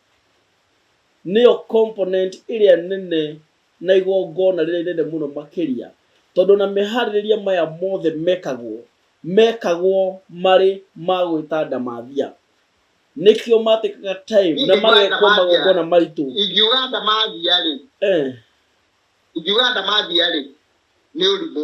nĩyo component ĩrĩa nene na igongona rĩrĩa inene mũno makĩria, tondũ ona meharĩrĩria maya mothe mekagwo, mekagwo marĩ ma gwĩta ndamathia. Nĩkĩo ma take aga time na magekwo magongona maritũ. Ingiuga ndamathia-rĩ, ingiuga ndamathia-rĩ, nĩ ũrimũ.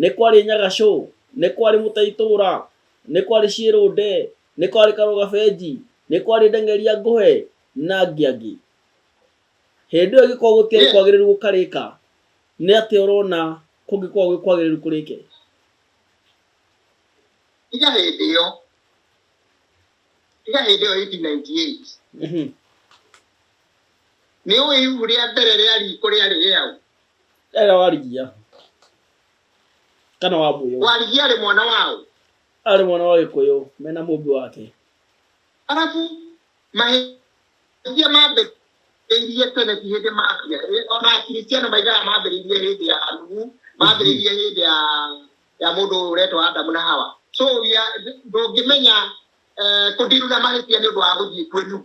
Nĩ kwarĩ Nyagacũ, nĩ kwarĩ Mũtaitũra, nĩ kwarĩ Ciĩrũnde, nĩ kwarĩ Karũgabenji, nĩ kwarĩ Ndeng'eria Ngũhe na angĩ angĩ. Hĩndĩ ĩyo ĩngĩkorwo gũtiarĩ kwagĩrĩru gũkarĩka, nĩ atĩa ũrona kũngĩkorwo gwĩ kwagĩrĩru kũrĩke? Tiga hĩndĩ ĩyo, tiga hĩndĩ ĩyo 1898. Nĩũĩ ibuku rĩa mbere rĩa riitũ rĩarĩ rĩaũ? Ega warigia. Kana wa mũyũ. Warigia arĩ mwana wao. Arĩ mwana wa Gĩkũyũ mena mũmbi wake. Arabu mahĩtia mambĩrĩirie tene ti hĩndĩ maambia. Ona Akristiano maigaga mambĩrĩirie hĩndĩ ya Nuhu, mambĩrĩirie hĩndĩ ya ya mũndũ ũyũ ũretwo Adamu na Hawa. So ndũngĩmenya eh, kũndiruna mahĩtia nĩ ũndũ wa gũthiĩ kwĩ Nuhu.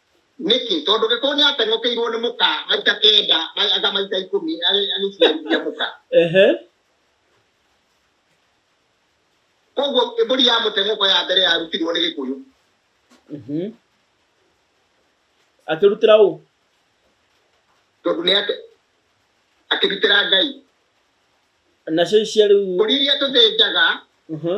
Nĩkĩ? Tondũ gĩkũyũ nĩ ateng'ũkĩirwo nĩ mũka maita kenda, ma- anga maita ikũmi, agĩ- agĩciarithia mũka. Ehe. Koguo mbũri ya mũteng'ũko ya mbere yarutirwo nĩ gĩkũyũ. Mhm. Akĩrutĩra ũ? Tondũ nĩ ate- akĩrutĩra Ngai. Nacio ici cia rĩu. Mbũri iria tũthĩnjaga Mhm.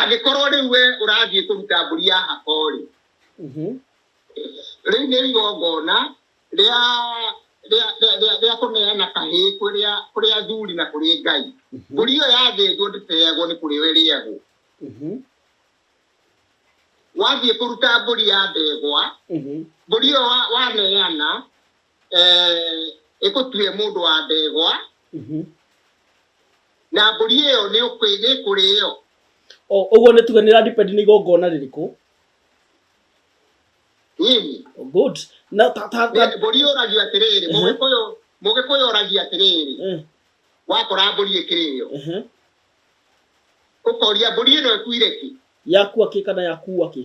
angĩkorwo rĩu we ũrathiĩ kũruta mbũri ya hakori Mhm. rĩu nĩ igongona rĩa rĩa- rĩa- rĩa- rĩa kũneana kahĩĩ kũrĩa kũrĩa athuri na kũrĩ ngai mbũri ĩyo yathĩnjwo ndĩteagwo nĩ kũrĩ we rĩagwo Mhm. wathiĩ kũruta mbũri ya ndegwa Mhm. mbũri ĩyo wa- waneana eh, ĩgũtue mũndũ wa ndegwa Mhm. na mbũri ĩyo nĩ ũkwĩ- nĩ ĩkũrĩo O, ũguo nĩ tuge nĩ radipend nĩ igongona rĩrĩkũ nyinyi Oh, good na ta, ta, ta, Nĩ- mbũri yũragio atĩrĩrĩ Mhm. mũgĩkũyũ mũgĩkũyũ ũragia atĩrĩrĩ eh, wakora mbũri ĩkĩrĩo eh, ũkoria mbũri ĩno ĩkuire ki yakua kĩ kana yakua kĩ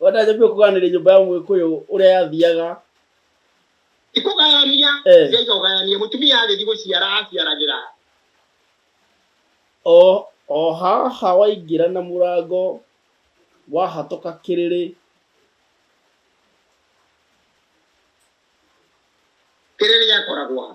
wenda njambie kũganĩria nyũmba ya mũgĩkũyũ ũrĩa yathiaga ikũgayania Eh. njaiga ũgayanie mũtumia agĩthi gũciara aciaragĩra o o haha waingĩra na mũrango wahatũka kĩrĩrĩ kĩrĩrĩ gĩakoragwo ha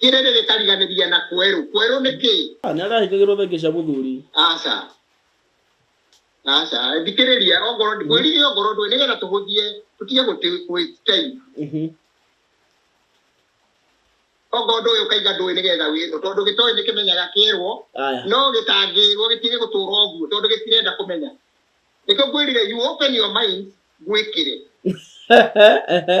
Kĩrĩrĩ gĩkariganĩria na kwerũ. Kwerũ nĩ kĩ? Ah, nĩ arahĩngagĩrwo thenge cia mũthuri. Aca. Aca, thikĩrĩria ongorwo ndi- mwĩrire ongorwo ndũĩ nĩgetha tũhũthie tũtige gũtĩ waste time. Mhm. Ongorwo ndũĩ ũkaiga ndũĩ nĩgetha wĩrwo tondũ gĩtoĩ nĩ kĩmenyaga kĩerwo Aya. no gĩtangĩrwo gĩtige gũtũra ũguo tondũ gĩtirenda kũmenya. Nĩkĩo ngwĩrire you open your mind gwĩkĩre. Ehe.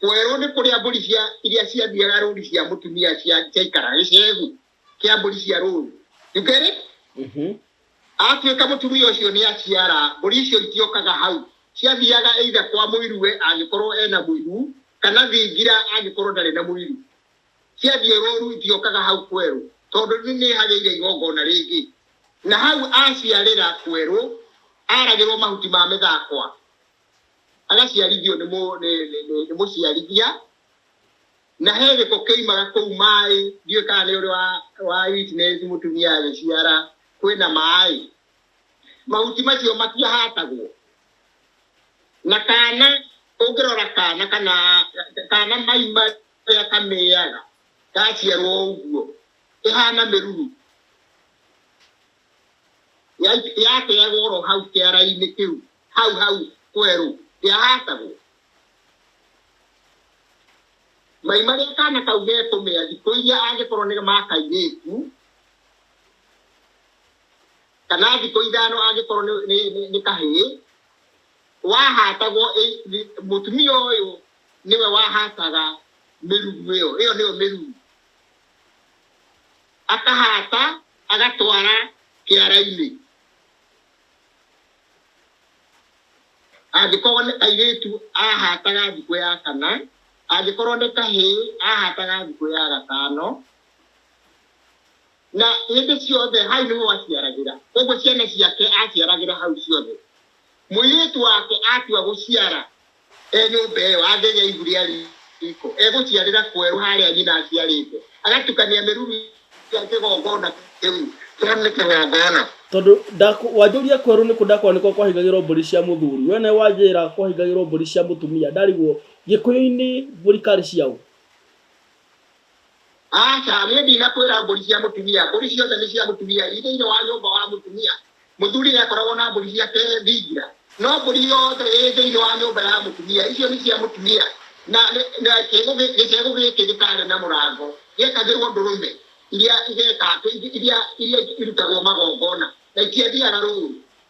kwerwo nĩ kũrĩa mbũri cia iria ciathiaga rũri cia mũtumia cia ciaikara gĩcegu kĩa mbũri cia rũri you get it Mhm. atuĩka mũtumia ũcio nĩ aciara mbũri icio itiokaga hau ciathiaga eitha kwa mũirue angĩkorwo ena mũiru kana thingira angĩkorwo ndarĩ na mũiru ciathiĩ rũru itiokaga hau kwerũ tondũ nĩ nĩ hagĩire igongona rĩngĩ na hau aciarĩra kwerũ aragĩrwo mahuti ma mĩthakwa agaciarithio nĩ mũ- nĩ- nĩ- nĩ- nĩ mũciarithia na he gĩko kĩimaga kũu maĩ ndiũĩ kana nĩ ũrĩ wa- wa witness mũtumia agĩciara kwĩna maĩ mahuti macio matiahatagwo na kana ũngĩrora kana kana kana maima rĩrĩa kamĩaga gaciarwo ũguo ĩhana mĩruru Ya- yateagwo oro hau kĩara-inĩ kĩu hau hau kwerũ ndĩahatagwo mai marĩa kana kau gekũmĩa thikũ iria angĩkorwo nĩ ma kairĩtu kana thikũ ithano angĩkorwo nĩ- nĩ- nĩ- nĩ kahĩĩ wahatagwo ĩ- ĩ- mũtumia ũyũ nĩwe wahataga mĩrugu ĩyo ĩyo nĩyo mĩrugu akahata agatwara kĩara-inĩ angĩkorwo nĩ airĩtu ahataga thikũ ya kana, angĩkorwo nĩ kahĩ ahataga thikũ ya gatano, na hĩndĩ ciothe hau nĩho aciaragĩra, koguo ciana ciake aciaragĩra hau ciothe. Mũirĩtu wake atua gũciara e nyũmba ĩyo angĩgĩa ihu rĩa riiko, egũciarĩra kwerũ harĩa nyina aciarĩte, agatukania mĩruru ya kĩgongona kĩu kĩa mĩkĩgongona. Tondũ ndaku, wanjũria kwerũ nĩ kũ ndakwa nĩkuo kwahingagĩrwo mbũri cia mũthuri, we nawe wanjĩra kwahingagĩrwo mbũri cia mũtumia ndarigwo, Gĩkũyũ-inĩ mbũri karĩ cia ũ? Aca, niĩ ndinakwĩra mbũri cia mũtumia. Mbũri ciothe nĩ cia mũtumia i thĩinĩ wa nyũmba wa mũtumia. Mũthuri nĩakoragwo na mbũri ciake thingira, no mbũri yothe ĩ thĩinĩ wa nyũmba ya mũtumia, icio nĩ cia mũtumia, na kĩĩgu gĩcegũ gĩkĩ gĩtaarĩ na mũrango gĩekagĩrwo ndũrũme iria iria irutagwo magongona, na itiathiaga rũũru.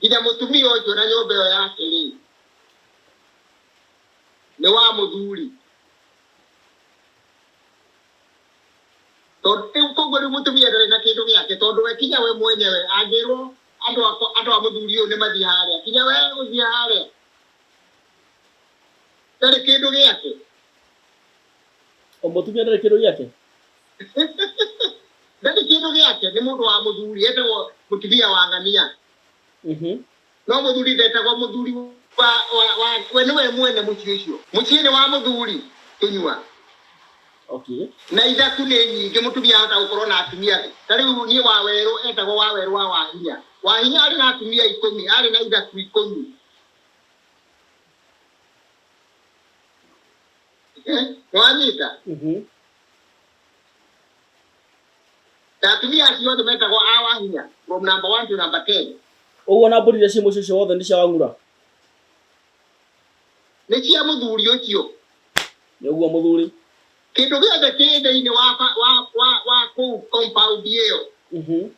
Githĩ mũtumia ũyũ na nyũmba ĩyo yake rĩ, nĩ wa mũthuri? Tondũ rĩu koguo rĩu mũtumia ndarĩ na kĩndũ gĩake tondũ we kinya we mwenyewe angĩrwo andũ akwa andũ a mũthuri ũyũ nĩ mathiĩ harĩa kinya we gũthiĩ harĩa ndarĩ kĩndũ gĩake. O mũtumia ndarĩ kĩndũ gĩake. Ndarĩ kĩndũ gĩake nĩ mũndũ wa mũthuri etagwo mũtumia wa ng'ania. Mhm. No mũthuri ndetagwo mũthuri wa wa wa we nĩwe mwene mũciĩ ũcio. Mũciĩ nĩ wa mũthuri kĩnyua. Okay. Na ithaku nĩ nyingĩ mũtumia ahota gũkorwo na atumia. Ta rĩu niĩ wa werũ etagwo wa werũ wa wahinya. Wahinya arĩ na atumia ikũmi, arĩ na ithaku ikũmi. nĩwanyita Mhm. na atumia acio othe metagwo awa hinya from number one to number ten ũguo na mbũri iria ciĩ mũciĩ ũcio wothe nĩ cia wang'ura nĩ cia mũthuri ũcio nĩ ũguo mũthuri kĩndũ gĩothe kĩ thĩinĩ wa ba- wa wa wa kũu compound ĩyo Mhm.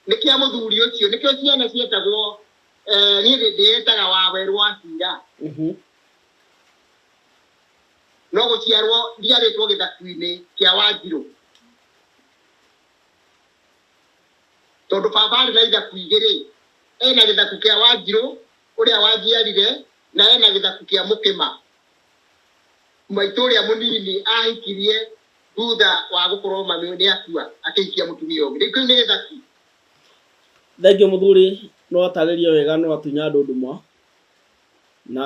nĩ kĩa mũthuri ũcio nĩkĩo ciana cietagwo eh, niĩ ndĩ- ndĩyetaga wawerwo acira Mhm. no gũciarwo ndiarĩtwo gĩthaku-inĩ kĩa wanjirũ tondũ baba arĩ na ithaku igĩrĩ ena gĩthaku kĩa wanjirũ ũrĩa wanjiarire na ena gĩthaku kĩa mũkĩma maitũ ũrĩa mũnini ahikirie thutha wa gũkorwo mami nĩ akua akĩhikia mũtumia ũngĩ rĩu kĩu nĩ gĩthaku Thengiũ mũthuri no atarĩrie wega no atunya andũ nduma na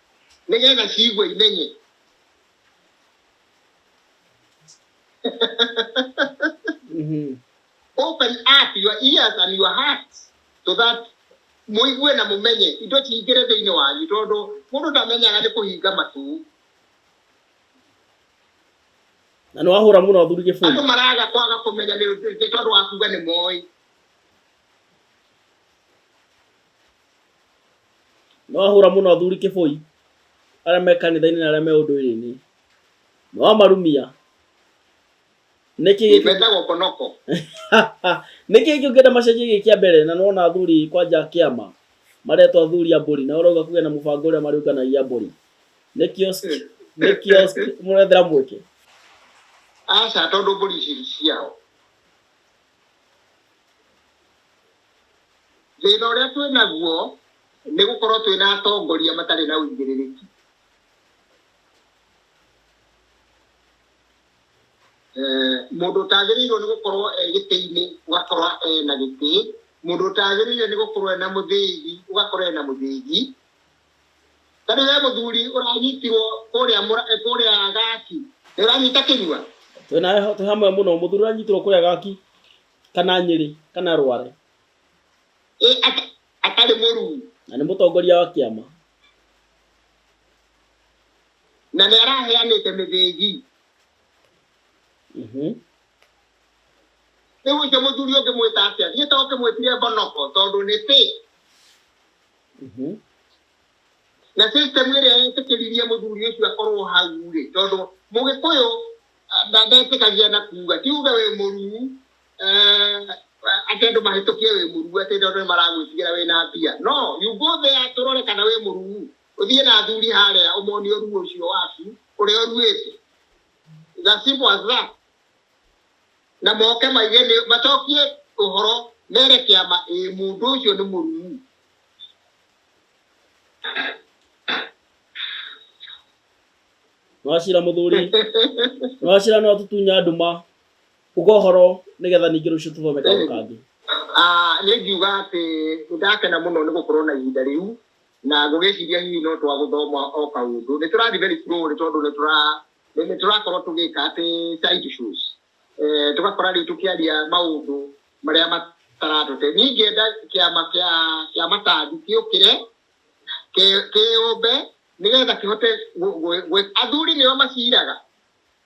nĩgetha ciigue imenye Mhm. open up your ears and your heart so that mũigue na mũmenye indo ciingĩre thĩinĩ wanyu tondũ mũndũ ndamenyaga nĩ kũhinga matũ na nĩ wahũra mũno athuri andũ kĩbũri maraga kwaga kũmenya nĩ nĩ tondũ wa kuga nĩ moĩ Nĩwahũra mũno athuri kĩboi arĩa me kanitha-inĩ na arĩa me ũndũire-inĩ. Nĩwamarumia. Nĩkĩ gĩkĩ- Metagwo konoko. nĩkĩ gĩkĩ ũngĩenda macenjie gĩ kĩa mbere na nĩwona athuri kwanja kĩama maretwo athuri a mbũri na ũrauga kũgĩa na mũbango ũrĩa marĩũnganagia mbũri. Nĩ kiosk, nĩ kiosk mũrethera mweke. Aca tondũ mbũri ici ciao. Thĩna ũrĩa twĩ naguo nĩ gũkorwo twĩ na atongoria matarĩ na ũigĩrĩrĩki. Eh, mũndũ ũtagĩrĩirwo nĩ gũkorwo e gĩtĩ-inĩ ũgakorwo e na gĩtĩ, mũndũ ũtagĩrĩire nĩ gũkorwo e na mũthĩgi ũgakorwo e na mũthĩgi. Tondũ we mũthuri ũranyitirwo kũrĩa mũra- eh, kũrĩa gaki nĩ ũranyita kĩnyua twĩ nawe twĩ hamwe mũno mũthuri ũranyitirwo kũrĩa gaki kana nyĩrĩ kana rware Ĩ, ata- atarĩ mũruu na nĩ mũtongoria wa kĩama na nĩ araheanĩte mĩthĩgi Mhm. rĩu ũcio mũthuri ũngĩmwĩta atĩa niĩ to ũkĩmwĩtire mbonoko tondũ nĩ pĩ Mhm. na system ĩrĩa yetĩkĩririe mũthuri ũcio akorwo hau rĩ tondũ mũgĩkũyũ ah, nda- ndetĩkagia na kuga ti uge wĩ mũruu eh, atĩ andũ mahĩtũkie wĩ mũruu atĩ tondũ nĩ maragwĩtigĩra wĩ na mbia no you go there tũrore kana wĩ mũruu ũthiĩ na athuri harĩa ũmonie ũruu ũcio waku ũrĩa ũruĩte It's as simple as that na moke maige nĩ macokie ũhoro mere kĩama ĩ mũndũ ũcio nĩ mũrumu. Wacira mũthuri, wacira no tutunya nduma uga ũhoro nĩgetha ningĩ rũciũ tũthome kaũndũ kangĩ. Ah, nĩ ngiuga atĩ nĩ ndakena mũno nĩ gũkorwo na ihinda rĩu na ngũgĩciria hihi no twagũthoma o kaũndũ. Nĩ tũrathiĩ very slow nĩ tondũ nĩ tũra then tũrakorwo tũgĩka atĩ side shows eh, tũgakora rĩu tũkĩaria maũndũ marĩa mataratũte niĩ ingĩenda kĩama kĩa kĩa matandi kĩũkĩre kĩ- kĩũmbe nĩgetha kĩhote gũ- gũ- gũ- athuri nĩo maciraga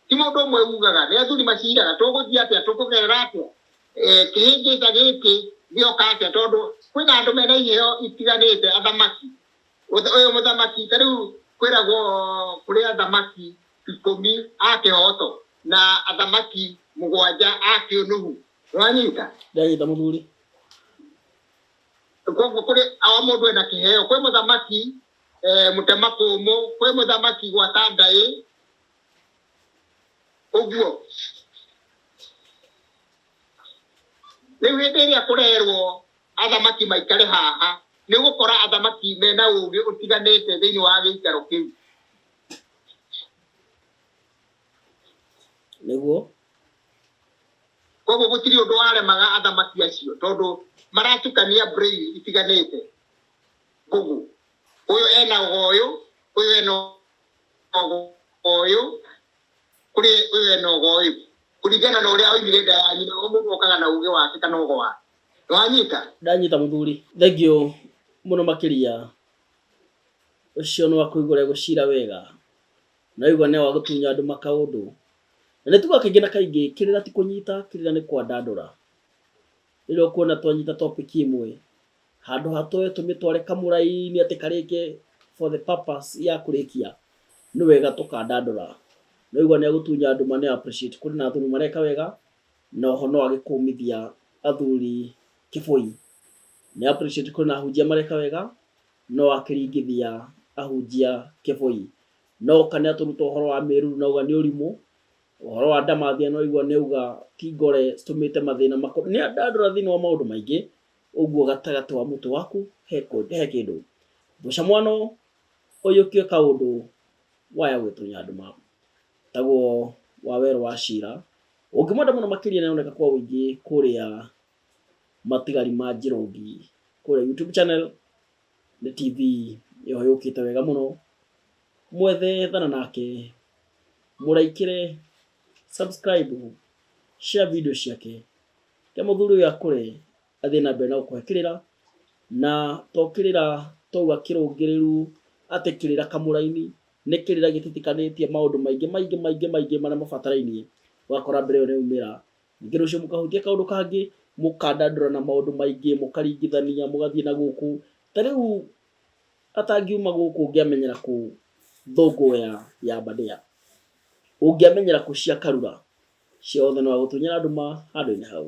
ti mũndũ ũmwe ugaga nĩ athuri maciraga tũgũthiĩ atĩa tũkũgerera atĩa Eh, kĩhĩngĩca gĩkĩ gĩoka atĩa tondũ kwĩna andũ mena iheo itiganĩte athamaki Ũtha- ũyũ mũthamaki ta rĩu kwĩragwo kũrĩ athamaki ikũmi a kĩhoto na athamaki mũgwanja a kĩũnuhu nĩwanyita ndagĩta mũthuri koguo kũrĩ o mũndũ ena kĩheo kwĩ mũthamaki eh, mũtema kũmũ kwĩ mũthamaki gwata ndaĩ ũguo rĩu hĩndĩ ĩrĩa kũrerwo athamaki maikare haha, nĩ gũkora athamaki mena ũũgĩ ũtiganĩte thĩinĩ wa gĩikaro kĩu. Nĩguo. Koguo gũtirĩ ũndũ waremaga athamaki acio tondũ maratukania brain itiganĩte. Ngũgũ. Ũyũ ena ũyũ, ũyũ ena ũyũ, kũrĩ ũyũ ena ũyũ. Kũringana na ũrĩa oimire nda ya nyina, o mũndũ okaga na ũũgĩ wake kana ũgo wake. wanyita ndanyita mũthuri thengio mũno makĩria ũcio nĩ wakũigũra gũcira wega na igwa nĩ wagũtunya andũ makaũndũ na nĩ tuga kaingĩ na kaingĩ kĩrĩra ti kũnyita kĩrĩra nĩ kwandandũra rĩrĩa ũkuona twanyita topic ĩmwe handũ hatoe tũmĩtware kamũrai-inĩ atĩ karĩke for the purpose ya kũrĩkia nĩ wega tũkandandũra no igwa nĩ agũtunya nduma nĩ appreciate kũrĩ na athuri mareka wega Na oho no age kũmithia athuri kĩbũi. Nĩ appreciate kwĩna ahunjia mareka wega no akĩringithia ahunjia kĩbũi. No oka nĩ atũruta ũhoro wa mĩruru na auga nĩ ũrimũ, ũhoro wa ndamathia nĩ waigua nĩ auga ti ngore citũmĩte mathĩna makũ. Nĩ andandũra thĩinĩ wa maũndũ maingĩ ũguo gatagatĩ wa mũtwe waku he kĩndũ. Mũcamwano ũyũkio kaũndũ waya gwĩtũnya andũ ma. Taguo wa werũ wa Shira. Ũngĩmwenda mũno makĩria nĩ aroneka kwa ũingĩ kũrĩa matigari ma Njĩrũngi kũrĩa YouTube channel. Nĩ TV ĩyo yũkĩte wega mũno. Mwethe ethana nake, mũraikĩre subscribe, share video ciake. Reke mũthuri ũyũ akũre athiĩ na mbere na gũkũhe kĩrĩra, na to kĩrĩra twaua kĩrũngĩrĩru atĩ kĩrĩra kamũraini, nĩ kĩrĩra gĩtitikanĩtie maũndũ maingĩ maingĩ maingĩ maingĩ marĩa mabatarainie, ũgakora mbĩra ĩyo nĩ yaumĩra. Ningĩ rũciũ mũkahutia kaũndũ kangĩ, mũkandandũrana maũndũ maingĩ, mũkaringithania, mũgathiĩ na gũkũ. Ta rĩu atangiuma gũkũ ũngĩamenyera kũ thũngũ ya ya mbandĩa? Ũngĩamenyera kũ cia karura? Ciothe no agũtunyĩra nduma handũ-inĩ hau.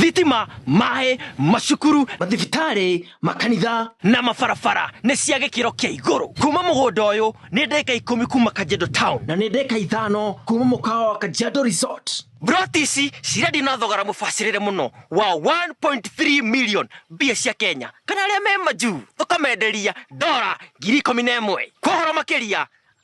thitima, maĩ, macukuru, mathibitarĩ, makanitha na mabarabara nĩ cia gĩkĩro kĩa igũrũ. Kuma mũgũnda ũyũ nĩ ndeka ikũmi kuma Kajiado Town na nĩ ndeka ithano kuma mũkawa wa Kajiado Resort. Mburoti ici cirendio na thogora mũbacĩrĩre mũno wa 1.3 million mbia cia Kenya kana arĩa me majuu tũkamenderia ndora ngiri ikũmi na ĩmwe. Kwa ũhoro makĩria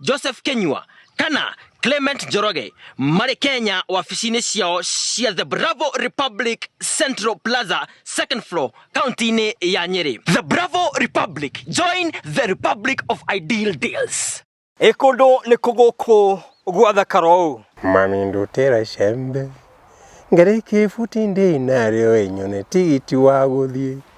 Joseph Kenyua kana Clement Njoroge marĩ Kenya wabici-inĩ ciao cia The Bravo Republic Central Plaza second floor kaunti-inĩ ya Nyeri. The Bravo Republic, join the Republic of Ideal Deals. Ĩ kũndũ nĩ kũgũkũ gwathakara ũũ. Mami ndutĩra icembe ngarĩkie ibuti ndĩ narĩo ĩnyone tigiti wa gũthiĩ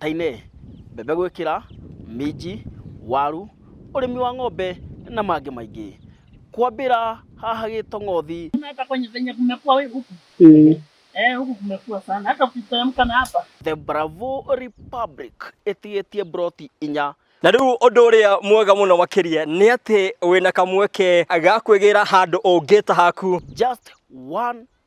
tainĩ, mbembe gwĩkĩra, minji, waru, ũrĩmi wa ng'ombe na mangĩ maingĩ. Kwambĩra haha Gĩtong'othi. The Bravo Republic ĩtigĩtie mburoti inya. Na rĩu ũndũ ũrĩa mwega mũno makĩria nĩ atĩ wĩna kamweke ga kwĩgĩra handũ ũngĩta haku. Just one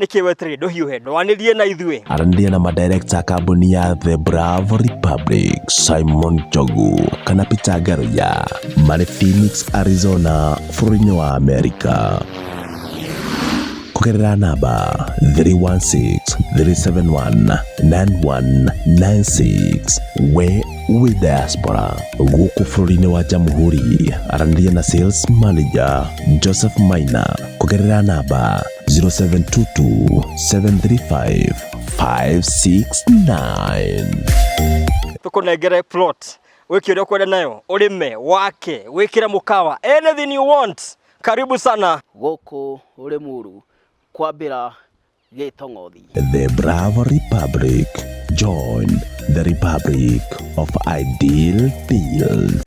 nĩkĩ weterire ndũhiũhe ndwanĩrie na ithuĩ aranĩria na madirekta a kambuni ya the bravo republic simon jogu kana peter garoya marĩ phoenix arizona bũrũri-inĩ wa amerika kũgerera namba 316-371-9196 we wĩ diaspora gũkũ bũrũri-inĩ wa jamhuri aranĩria na sales manager joseph maina kũgerera namba 0722 735 569 tũkũnengere plot wĩke ũrĩa ũkwenda nayo ũrĩme wake wĩkĩre mũkawa anything you want karibu sana gũkũ Rĩmuru kwambĩra Gĩtong'othi. The Bravo Republic. Join the Republic of Ideal Deals.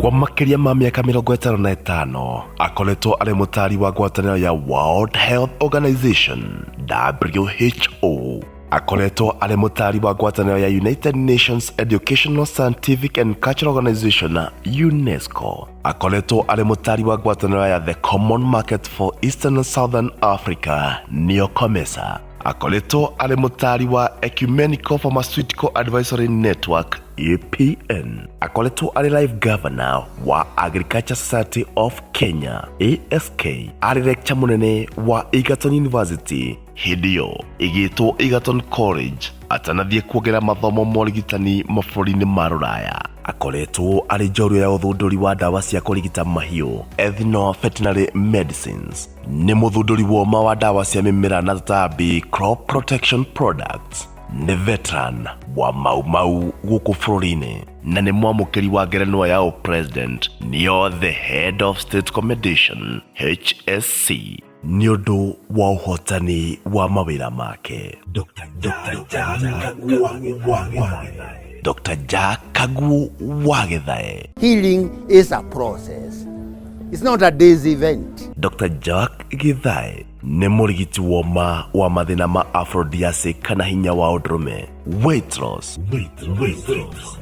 kwa makĩria ma mĩaka mĩrongo ĩtano na ĩtano akoretwo arĩ mũtaari wa ngwatanĩro ya world health organization who akoretwo arĩ mũtaari wa ngwatanĩro ya united nations educational scientific and cultural organization unesco akoretwo arĩ mũtari wa ngwatanĩro ya the common market for eastern and southern africa neo comesa akoretwo arĩ mũtari wa ecumenical pharmaceutical advisory network apn akoretwo arĩ live governor wa agriculture society of kenya ask arĩ lecture mũnene wa egerton university hĩndĩ ĩyo ĩgĩtwo Egerton College atanathiĩ kuongerera mathomo ma ũrigitani mabũrũri-inĩ ma rũraya akoretwo arĩ njorua ya ũthundũri wa ndawa cia kũrigita mahiũ Ethno Veterinary Medicines nĩ mũthundũri woma wa ndawa cia mĩmera na tũtambi crop protection products nĩ veteran wa mau mau gũkũ bũrũri-inĩ na nĩ mwamũkĩri wa ngerenwa ya ũpresident nĩyo the head of state commendation hsc nĩ ũndũ wa ũhotani wa mawĩra make Dr. Jack Kaguo Wagethae Healing is a process. It's not a day's event. Dr. Jack Githae nĩ mũrigiti woma wa mathĩna ma aphrodisiac kana hinya wa ũndũrũme weight loss,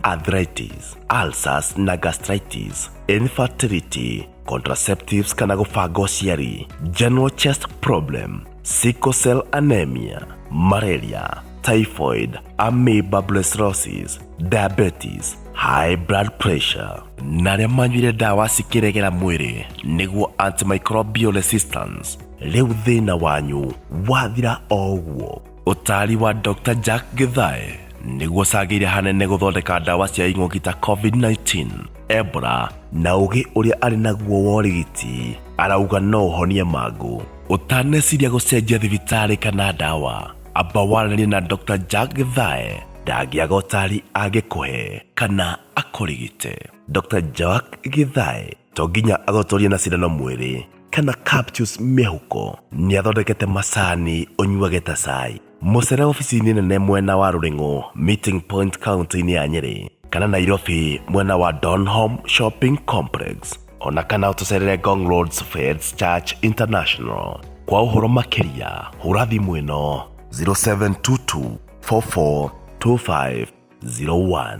arthritis, ulcers na gastritis, infertility, contraceptives kana gũbanga ũciari general chest problem sickle cell anemia malaria typhoid amoeba brucellosis diabetes high blood pressure na arĩa manyuire ndawa cikĩregera mwĩrĩ nĩguo antimicrobial resistance rĩu thĩna wanyu wathira o ũguo Ũtaari wa Dr. Jack Githae nĩguo cagĩire hanene gũthondeka ndawa cia ing'ũki ta COVID-19, Ebola na ũgĩ ũrĩa arĩ naguo wa ũrigiti arauga no ũhonie mangũ. Ũtaneciria gũcenjia thibitarĩ kana ndawa, amba waranĩrie na Dr. Jack Githae ndangĩaga ũtaari angĩkũhe kana akũrigite. Dr. Jack Githae to nginya agotorie na cindano mwĩrĩ kana capsules mĩhuko nĩ athondekete macani ũnyuage ta cai mũcere ofici-inĩ nene mwena wa rũrĩng'ũ meeting point kaunti-inĩ ya nyĩrĩ kana nairobi mwena wa donholm shopping complex ona kana ũtũcerere gong roads feds church international kwa ũhoro makĩria hũra thimũ ĩno 0722 442501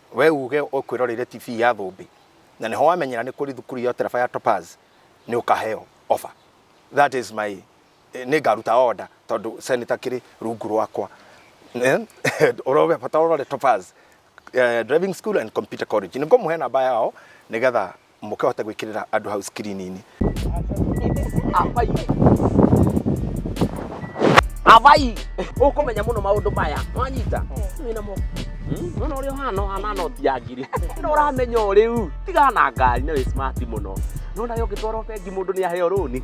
We uge ũkwĩroreire tibii ya thũmbĩ na nĩho wamenyera nĩ kũrĩ thukuru ya ũtereba ya Topaz nĩ ũkaheo offer. That is my nĩ ngaruta order tondũ Senator akĩrĩ rungu rwakwa. Ũroge bata ũrore Topaz driving school and computer college. Nĩ ngũmũhe namba yao nĩgetha mũkahota gwĩkĩrĩra andũ hau skrini-inĩ avai ukumenya muno maundu maya wanyita wina mo nona uri uhana uhana noti ya ngiri no uramenya o riu tiga na ngari na wi smart muno nona yo ngitwara bengi mundu ni aheo runi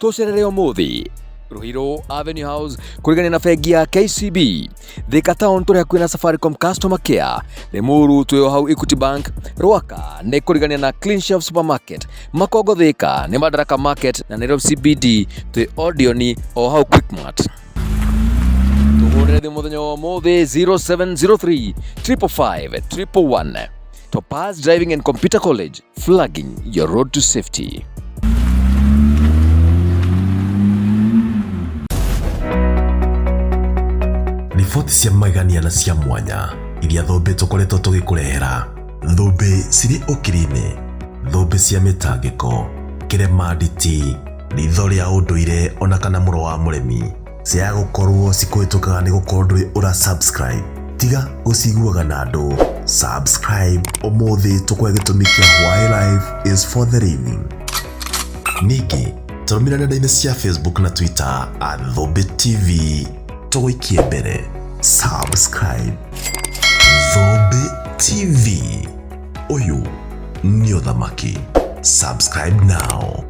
tũcerere ũmũthĩ Ruhiro Avenue House kurigania na bengi ya KCB Thika Town tũrĩa kwĩna Safaricom Customer Care Limuru twĩo hau Equity Bank Rwaka nĩ kurigania na Clean Shelf Supermarket Makongo Thika nĩ Madaraka Market na Nairobi CBD twĩ Odioni o hau Quickmart tũhũrĩre thimũ mũthenya wa ũmũthĩ 0703 355 311 Topaz Driving and Computer College, flagging your road to safety. riboti cia magegania na cia mwanya iria thũmbĩ tũkoretwo tũgĩkũrehera thũmbĩ cirĩ ũkiri-inĩ thũmbĩ cia mĩtangĩko kĩremanditi ritho rĩa ũndũire ona kana mũro wa mũremi Ciaga gũkorwo cikũhĩtũkaga nĩ gũkorwo ndũrĩ ũra subscribe. Tiga gũciguaga na andũ. Subscribe ũmũthĩ tũkũhe gĩtũmi kĩa why life is for the living. Ningĩ tũrũmĩrĩre nenda-inĩ cia Facebook na Twitter at Thũmbĩ TV. Tũgũikie mbere. Subscribe. Thũmbĩ TV. Ũyũ nĩ ũthamaki. Subscribe now.